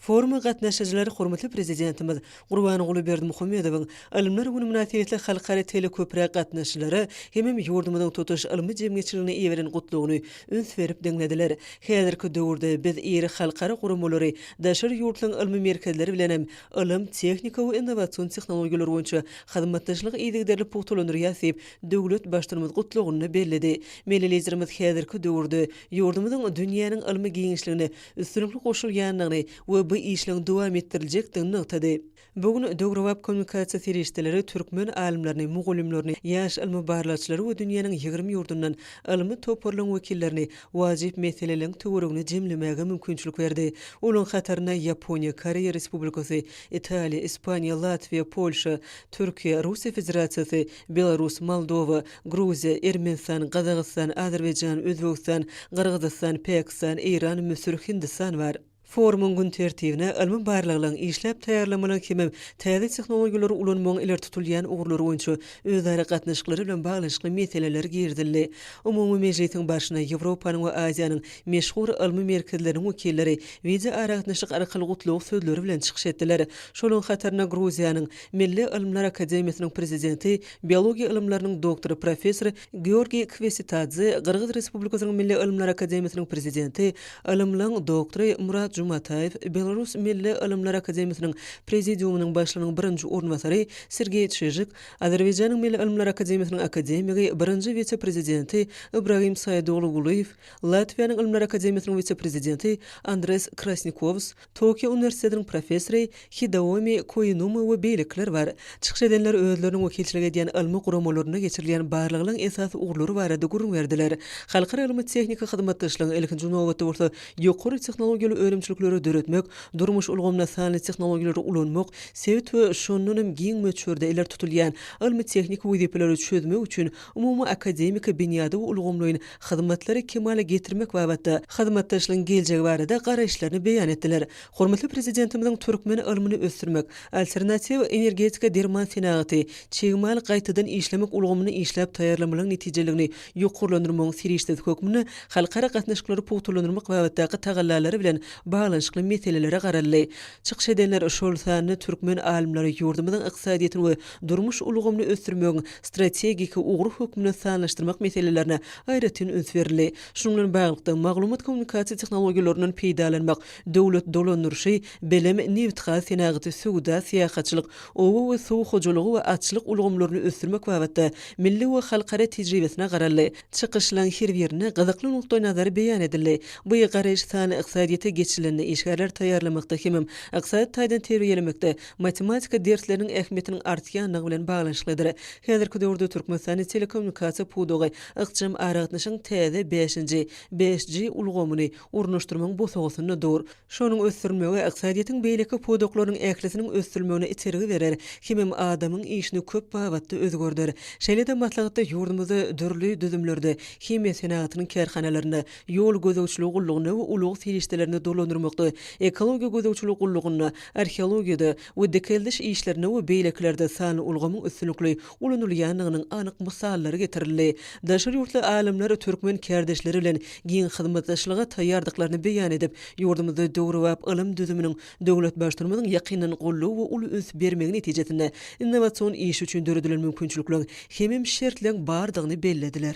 S1: Foruma gatnaşyjylar hormatly Prezidentimiz Gurbanguly Berdimuhamedowyň Ylymlar güni mynasybetli halkara teleköprä gatnaşyjylara hemem ýurdumyzyň tutuş ylmy jemgyýetçiligine iberen gutlagyny üns berip diňlediler. Häzirki döwürde biz iri halkara guramalary, daşary ýurtlaryň ylmy merkezleri bilenem ylym, tehnika we innowasion tehnologiýalar boýunça hyzmatdaşlygy yzygiderli pugtalandyrýas diýip, döwlet Baştutanymyz gutlagynda belledi. Milli Liderimiz häzirki döwürde ýurdumyzyň dünýäniň ylmy giňişligine üstünlikli goşulýandygyny we bu işleň dowam etdiriljekdigini nygtady. Bu gün döwrebap kommunikasiýa serişdeleri türkmen alymlaryny, mugallymlaryny, ýaş ylmy-barlagçylary we dünýäniň ýigrimi ýurdundan ylmy toparlaryň wekillerini wajyp meseleleriň töweregine jemlemäge mümkinçilik berdi. Olaryň hatarynda Ýaponiýa, Koreýa Respublikasy, Italiýa, Ispaniýa, Latwiýa, Polşa, Türkiýe, Russiýa Federasiýasy, Belarus, Moldowa, Gruziýa, Ermenistan, Gazagystan, Azerbaýjan, Özbegistan, Gyrgyzystan, Päkistan, Eýran, Müsür, Hindistan bar. Forumyň gün tertibine ylmy barlaglaryň, işläp taýýarlamalaryň hemem täze tehnologiýalary ulanmagyň ileri tutulýan ugurlary boýunça özara gatnaşyklary bilen baglanyşykly meseleler girizildi. Umumy mejlisiň barşyna Ýewropanyň we Aziýanyň meşhur ylmy merkezleriniň wekilleri wideoaragatnaşyk arkaly gutlag sözleri bilen çykyş etdiler. Şolaryň hatarynda Gruziýanyň, Milli ylymlar akademiýasynyň prezidenti, biologiýa ylymlarynyň doktory professor Georgiý Kwesitadze, Gyrgyz Respublikasynyň Milli ylymlar akademiýasynyň prezidenti, ylymlaň doktory Murat Jumataýew, Belarus Milli ylymlar akademiýasynyň prezidiumynyň başlygynyň birinji orunbasary Sergeý Çižik, Azerbaýjanyň Milli ylymlar akademiýasynyň akademigi, birinji wise-prezidenti Ibragim Saýedoglu Gulyýew, Latwiýanyň ylymlar akademiýasynyň wise-prezidenti Andres Krasnikows, Tokio uniwersitetiniň professory Hideomi Koinuma we beýlekiler bar. Çykyş edenler özleriniň wekilçilik edýän ylmy guramalarynda geçirilýän barlaglaryň esasy ugurlary barada gürrüň berdiler. Halkara ylmy-tehniki hyzmatdaşlygyň, ilkinji nobatda bolsa, ýokary tehnologiýaly önümçilikleri döretmek, durmuş ulgamynda sanly tehnologiýalary ulanmak, sebit we şondan hem giň möçberde ileri tutulýan ylmy-tehniki wezipeleri çözmek üçin umumy akademiki binýady we ulgamlaýyn hyzmatlary kemala getirmek babatda hyzmatdaşlygyň geljegi barada garaýyşlaryny beýan etdiler. Hormatly Prezidentimiziň türkmen ylmyny ösdürmek, alternatiw energetika, derman senagaty, çig mal gaýtadan işlemek ulgamyny işläp taýýarlamalaryň netijeligini ýokarlandyrmagyň serişdesi hökmünde halkara gatnaşyklary pugtalandyrmak babatdaky tagallalary bilen baglanyşykly meselelere garaldy. Çykyş edenler, şol sanda türkmen alymlary ýurdumyzyň ykdysadyýetini we durmuş ulgamyny ösdürmegiň strategik ugry hökmünde sanlaşdyrmak meselelerine aýratyn üns berildi. Şunuň bilen baglylykda, maglumat-kommunikasiýa tehnologiýalaryndan peýdalanmak, döwlet dolandyryşy, bilim, nebitgaz senagaty, söwda, syýahatçylyk, oba we suw hojalygy we atçylyk ulgamlaryny ösdürmek babatda milli we halkara tejribesine garaldy. Çykyşlaryň her birinde gyzykly nukdaýnazary beýan edildi. Bu ýygy garaýyş sanly ykdysadyýete geçilende işgärleri taýýarlamakda hemem ykdysady taýdan terbiýelemekde matematika dersleriniň ähmiýetiniň artýandygy bilen baglanyşyklydyr. Häzirki döwürde Türkmenistanda telekommunikasiýa pudagy ykjam aragatnaşygyň täze bäşinji, 5G, ulgamyny ornaşdyrmagyň bosagasynda dur. Şonuň ösdürilmegi ykdysadyýetiň beýleki pudaklarynyň ählisiniň ösdürilmegine itergi berer, hemem adamyň işini köp babatda özgerder. Şeýle-de maslahatda ýurdumyzda dürli düzümlerde, himiýa senagatynyň kärhanalarynda, Ýol gözegçiligi gullugyna we ulag serişdelerini dolandyrmakda, ekologiýa gözegçiligi gullugynda, arheologiýada we dikeldiş işlerinde we beýlekilerde sanly ulgamyň üstünlikli ulanylýandygynyň anyk mysallary getirildi. Daşary ýurtly alymlar türkmen kärdeşleri bilen giň hyzmatdaşlyga taýýardyklaryny beýan edip, ýurdumyzda döwrebap ylym düzüminiň döwlet Baştutanymyzyň ýakyndan goldaw we uly üns bermegi netijesinde innowasion iş üçin döredilen mümkinçilikleriň hemem şertleň bardygyny bellediler.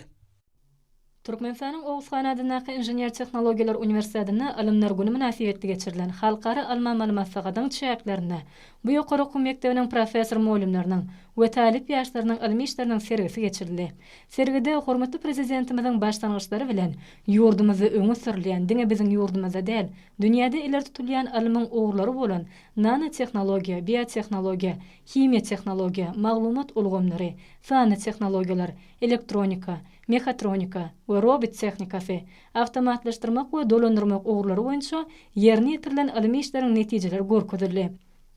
S10: Türkmenistanyň Oguzhan adyndaky Inžener-tehnologiýalar uniwersitetinde Ylymlar güni mynasybetli geçirilen Halkara ylmy-amaly maslahatyň çäklerinde bu ýokary okuw mekdebiniň professor-mugallymlarynyň we talyp ýaşlarynyň ylmy işleriniň sergisi geçirildi. Sergide hormatly Prezidentimiziň başlangyçlary bilen ýurdumyzda öňe sürülýän, diňe biziň ýurdumyzda däl, dünýäde ileri tutulýan ylmyň ugurlary bolan nanotehnologiýa, biotehnologiýa, himiýa tehnologiýa, maglumat ulgamlary, sanly tehnologiýalar, elektronika, mehatronika we robot tehnikasy, awtomatlaşdyrmak we dolandyrmak ugurlary boýunça ýerine ýetirilen ylmy işleriň netijeleri görkezildi.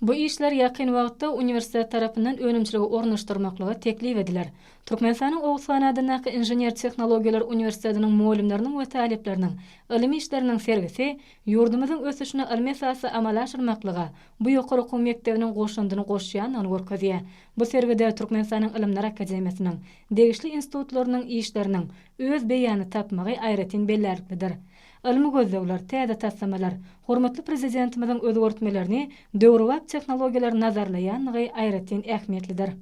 S10: Bu işler ýakyn wagtda uniwersitet tarapyndan önümçilige ornaşdyrmaklyga teklip ediler. Türkmenistanyň Oguzhan adyndaky Inžener-tehnologiýalar uniwersitetiniň mugallymlarynyň we talyplarynyň ylmy işleriniň sergisi ýurdumyzyň ösüşine ylmy esasda amala aşyrmaklyga bu ýokary okuw mekdebiniň goşandyny goşýandygyny görkezýär. Bu sergide Türkmenistanyň Ylymlar akademiýasynyň degişli institutlarynyň işleriniň öz beýanyny tapmagy aýratyn bellärliklidir. Ylmy gözlegler, täze taslamalar, hormatly Prezidentimiziň özgertmelerini döwrebap tehnologiýalar nazarlaýandygy aýratyn ähmiýetlidir.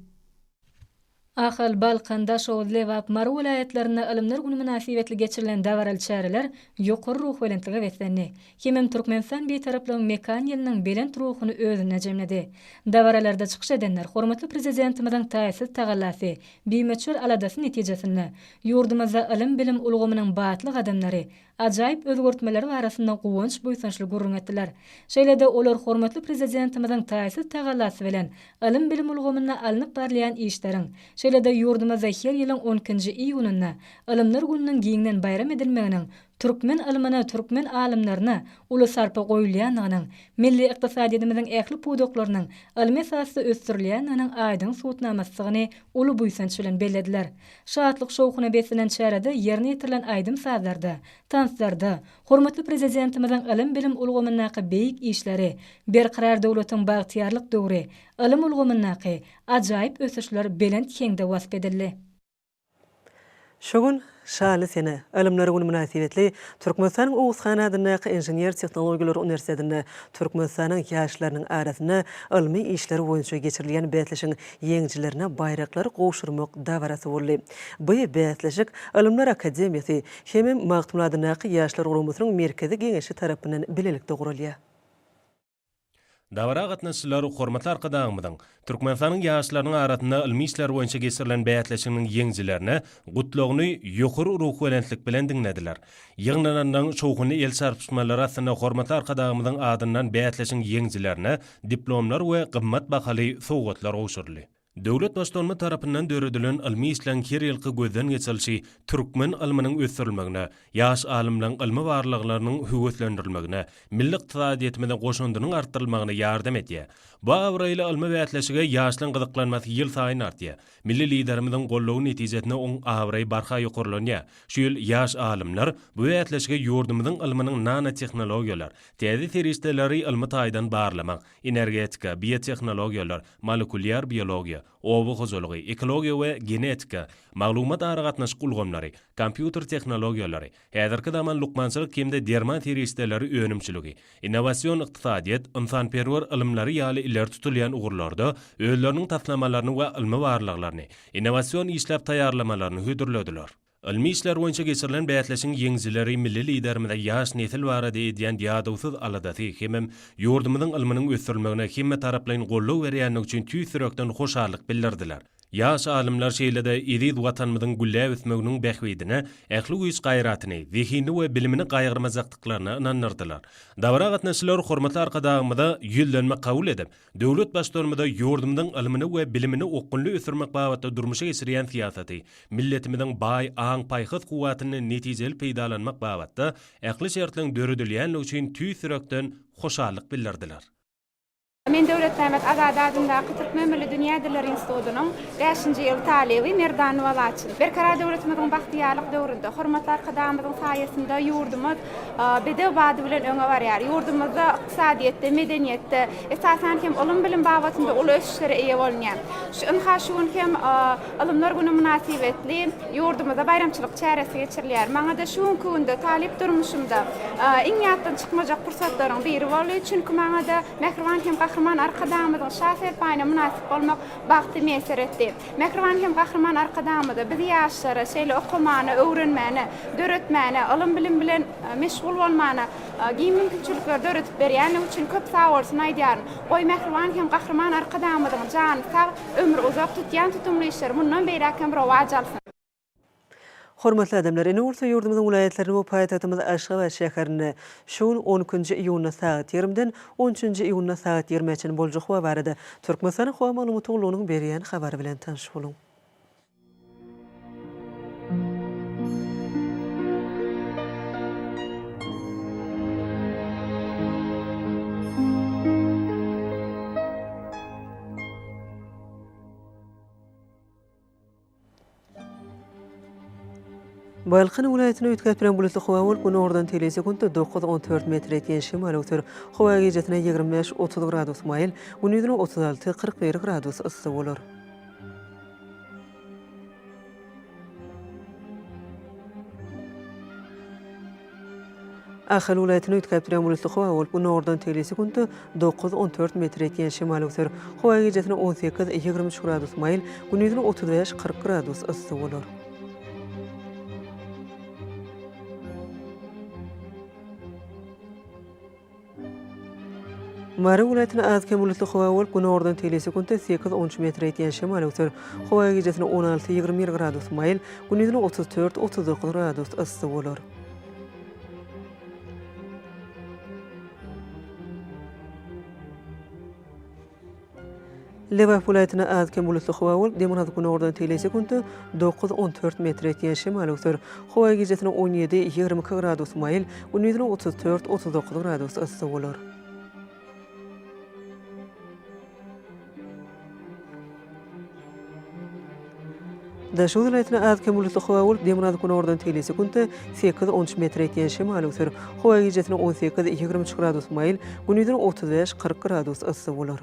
S10: Ahal, Balkan, Daşoguz, Lebap, Mary welaýatlarynda Ylymlar güni mynasybetli geçirilen dabaraly çäreler ýokary ruhubelentlige beslendi. hemem Türkmenistan Bitaraplygyň mekan ýylynyň belent ruhuny özünde jemledi. Dabaralarda çykyş edenler hormatly Prezidentimiziň taýsyz tagallasy, bimöçber aladasy netijesinde, ýurdumyzda ylym-bilim ulgamynyň batly gadamlary, ajaýyp özgertmeleri barasynda guwanç-buýsançly gürrüň etdiler. Şeýle-de olar hormatly Prezidentimiziň taýsyz tagallasy bilen ylym-bilim ulgamynda alnyp barylýan işleriň, şeýle-de ýurdumyzda her ýylyň on ikinji iýunynda Ylymlar gününiň giňden baýram edilmeginiň Türkmen ylmyna, türkmen alymlaryna uly sarpa goýulýandygynyň, milli ykdysadyýetimiziň ähli pudaklarynyň ylmy esasda ösdürilýändiginiň aýdyň subutnamasydygyny uly buýsanç bilen bellediler. Şatlyk-şowhuna beslenen çärede ýerine ýetirilen aýdym-sazlarda, tanslarda hormatly Prezidentimiziň ylym-bilim ulgamyndaky beýik işleri, Berkarar döwletiň bagtyýarlyk döwri, ylym ulgamyndaky ajaýyp ösüşler belent heňde wasp edildi. Şu
S1: gün Şanly sene, Ylymlar güni mynasybetli Türkmenistanyň Oguzhan adyndaky Inžener-tehnologiýalar uniwersitetinde Türkmenistanyň ýaşlarynyň arasynda ylmy işler boýunça geçirilýän bäsleşigiň ýeňijilerine baýraklary gowşurmak dabarasy boldy. Bu bäsleşik Ylymlar akademiýasy hem-ä Magtymguly adyndaky Ýaşlar guramasynyň Merkezi Geňeşi tarapyndan bilelikde guralýar. Dabara
S8: gatnaşyjylar Hormatly Arkadagymyzyň Türkmenistanyň ýaşlarynyň arasynda ylmy işler boýunça geçirilen bäsleşiginiň ýeňijilerine Gutlagyny ýokary ruhubelentlik bilen diňlediler. Ýygnananlaryň şowhunly el çarpyşmalary astynda Hormatly Arkadagymyzyň adyndan bäsleşigiň ýeňijilerine diplomlar we gymmat bahaly sowgatlar gowşuryldy. Döwlet Baştutany tarapyndan döredilen ylmy işleň her ýylky gözden geçirilişi türkmen ylmynyň ösdürilmegine, ýaş alymlaryň ylmy barlaglarynyň höweslendirilmegine, milli ykdysadyýetimize goşandynyň artdyrylmagyna ýardam edýär. Bu abraýly ylmy bäsleşige ýaşlaryň gyzyklanmasy ýylsaýyn artýar. Milli Liderimiziň goldawy netijesinde oň abraýy barha ýokarlanýar. Şu ýyl ýaş alymlar bu bäsleşige ýurdumyzyň ylmynyň nanotehnologiýalar, täze serişdeleri ylmy taýdan barlamak, energetika, biotehnologiýalar, molekulýar biologiýa, oba hojalygy, ekologiýa we genetika, maglumat-aragatnaşyk ulgamlary, kompýuter tehnologiýalary, häzirki zaman lukmançylyk hem-de derman serişdeleri önümçiligi, innowasion ykdysadyýet, ynsanperwer ylymlary ýaly ileri tutulýan ugurlarda özleriniň taslamalaryny we ylmy barlaglaryny, innowasion işläp taýýarlamalaryny hödürlediler. Ylmy işler boýunça geçirilen bäsleşigiň ýeňijileri milli Liderimize ýaş nesil barada edýän ýadawsyz aladasy hemem ýurdumyzyň ylmynyň ösdürilmegine hemmetaraplaýyn goldaw berýändigi üçin tüýs ýürekden hoşallyk bildirdiler. Ýaş alymlar şeýle-de eziz Watanymyzyň gülläp ösmeginiň bähbidine ähli güýç-gaýratyny, zehinini we bilimini gaýgyrmajakdyklaryna ynandyrdylar. Dabara gatnaşyjylar hormatly Arkadagymyza ýüzlenme kabul edip, Döwlet Baştutanymyza ýurdumyzyň ylmyny we bilimini okgunly ösdürmek babatda durmuşa geçirýän syýasaty, milletimiziň baý aň-paýhas kuwwatyndan netijeli peýdalanmak babatda ähli şertligiň döredilýändigi üçin tüýs ýürekden hoşallyk bildirdiler. Men
S11: Döwletmämmet Azady adyndaky Türkmen milli dünýä dilleri institutynyň bäşinji ýyl talyby Merdanova Laçyn. Berkarar döwletimiziň bagtyýarlyk döwründe, hormatly Arkadagymyzyň saýasynda ýurdumyz bedew bady bilen öňe barýar. Ýurdumyzda. ykdysadyýetde, medeniýetde, esasan hem, ylym-bilim babatynda uly ösüşlere eýe bolunýar. Şu ynha şu gün hem Ylymlar güni mynasybetli ýurdumyzda baýramçylyk çäresi geçirilýär. Maňa-da şu günki günde talyp durmuşymda iň ýatdan çykmajak pursatlaryň biri boldy. Çünki maňa-da mähriban hem Gahryman Arkadagymyzyň şa serpaýyna mynasyp bolmak bagty miýesser etdi. Mähriban hem Gahryman Arkadagymyza biz ýaşlara şeýle okamana, öwrenmäne, döretmäne, ylym-bilim bilen meşgul bolmana, Giň mümkinçilikleri döredip berýändigi üçin köp sagbolsun aýdýaryn. Goý, mähriban hem Gahryman Arkadagymyzyň jany sag, ömri uzak, tutýan tutumly işleri mundan beýläk hem rowaç alsyn!
S1: Hormatly adamlar, ine bolsa ýurdumyzyň welaýatlaryny we paýtagtymyz Aşgabat şäherinde şu gün on ikinji iýunda sagat ýigrimden on üçünji iýunda sagat ýigrimä çenli boljak howa barada Türkmenistanyň howa maglumat gullugynyň berýän habary bilen tanyş boluň. Balkan welaýatynda üýtgäp bilen bulutly howa bolup, günordan teýle sekuntda dokuz, on dört metr ýetýän şemal öwser. Howa gijesine ýigrimi bäş, otuz gradus maýyl, gündizine otuz alty, kyrk bir gradus yssy bolar. Ahal welaýatyny üýtgäp durýan bulutly howa bolup, günordan tegelýse günde dokuz-on dört metr ýetýän şemal öwser. Howa gijesine on sekiz-ýigrimi üç gradus maýyl, gündizine otuz bäş-kyrk gradus yssy bolar. Mary welaýatyna az-kem bulutly howa bolup, günordan tegelýän sekuntda sekiz on üç metre ýetýän şemal öwser. Howa gijesi on alty ýigrimi bir gradus maýyl, gündizine otuz dört otuz dokuz gradus yssy bolar. Lebap welaýatyna az-kem bulutly howa bolup, dem alyp, günordan tegelýän sekuntda dokuz, on dört metr etýän şemal öwser. Howa gijesine on ýedi, ýigrimi iki gradus maýyl, gündizine otuz dört, otuz dokuz gradus yssy bolar. Daşoguz welaýatyna az-kem bulusly howa bolup, demirgazyk-günordan tegelýse günde sekiz, on üç metr ýetýän şemal öser. Howa gijesiniň on sekiz, ýigrimi üç gradus maýyl, gündiziň otuz bäş, kyrk gradus yssy bolar.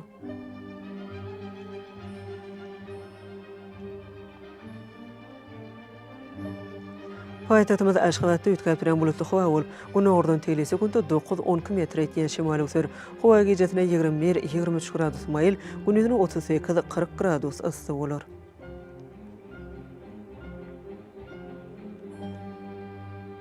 S1: Paýtagtymyz Aşgabatda üýtgäp duran bulutly howa bolup, günordan teýli sekuntda dokuz, on iki metre ýetýän şemal öwser. Howa gijesine ýigrimi bir, ýigrimi üç gradus maýyl, gündizine otuz sekiz, kyrk gradus yssy bolar.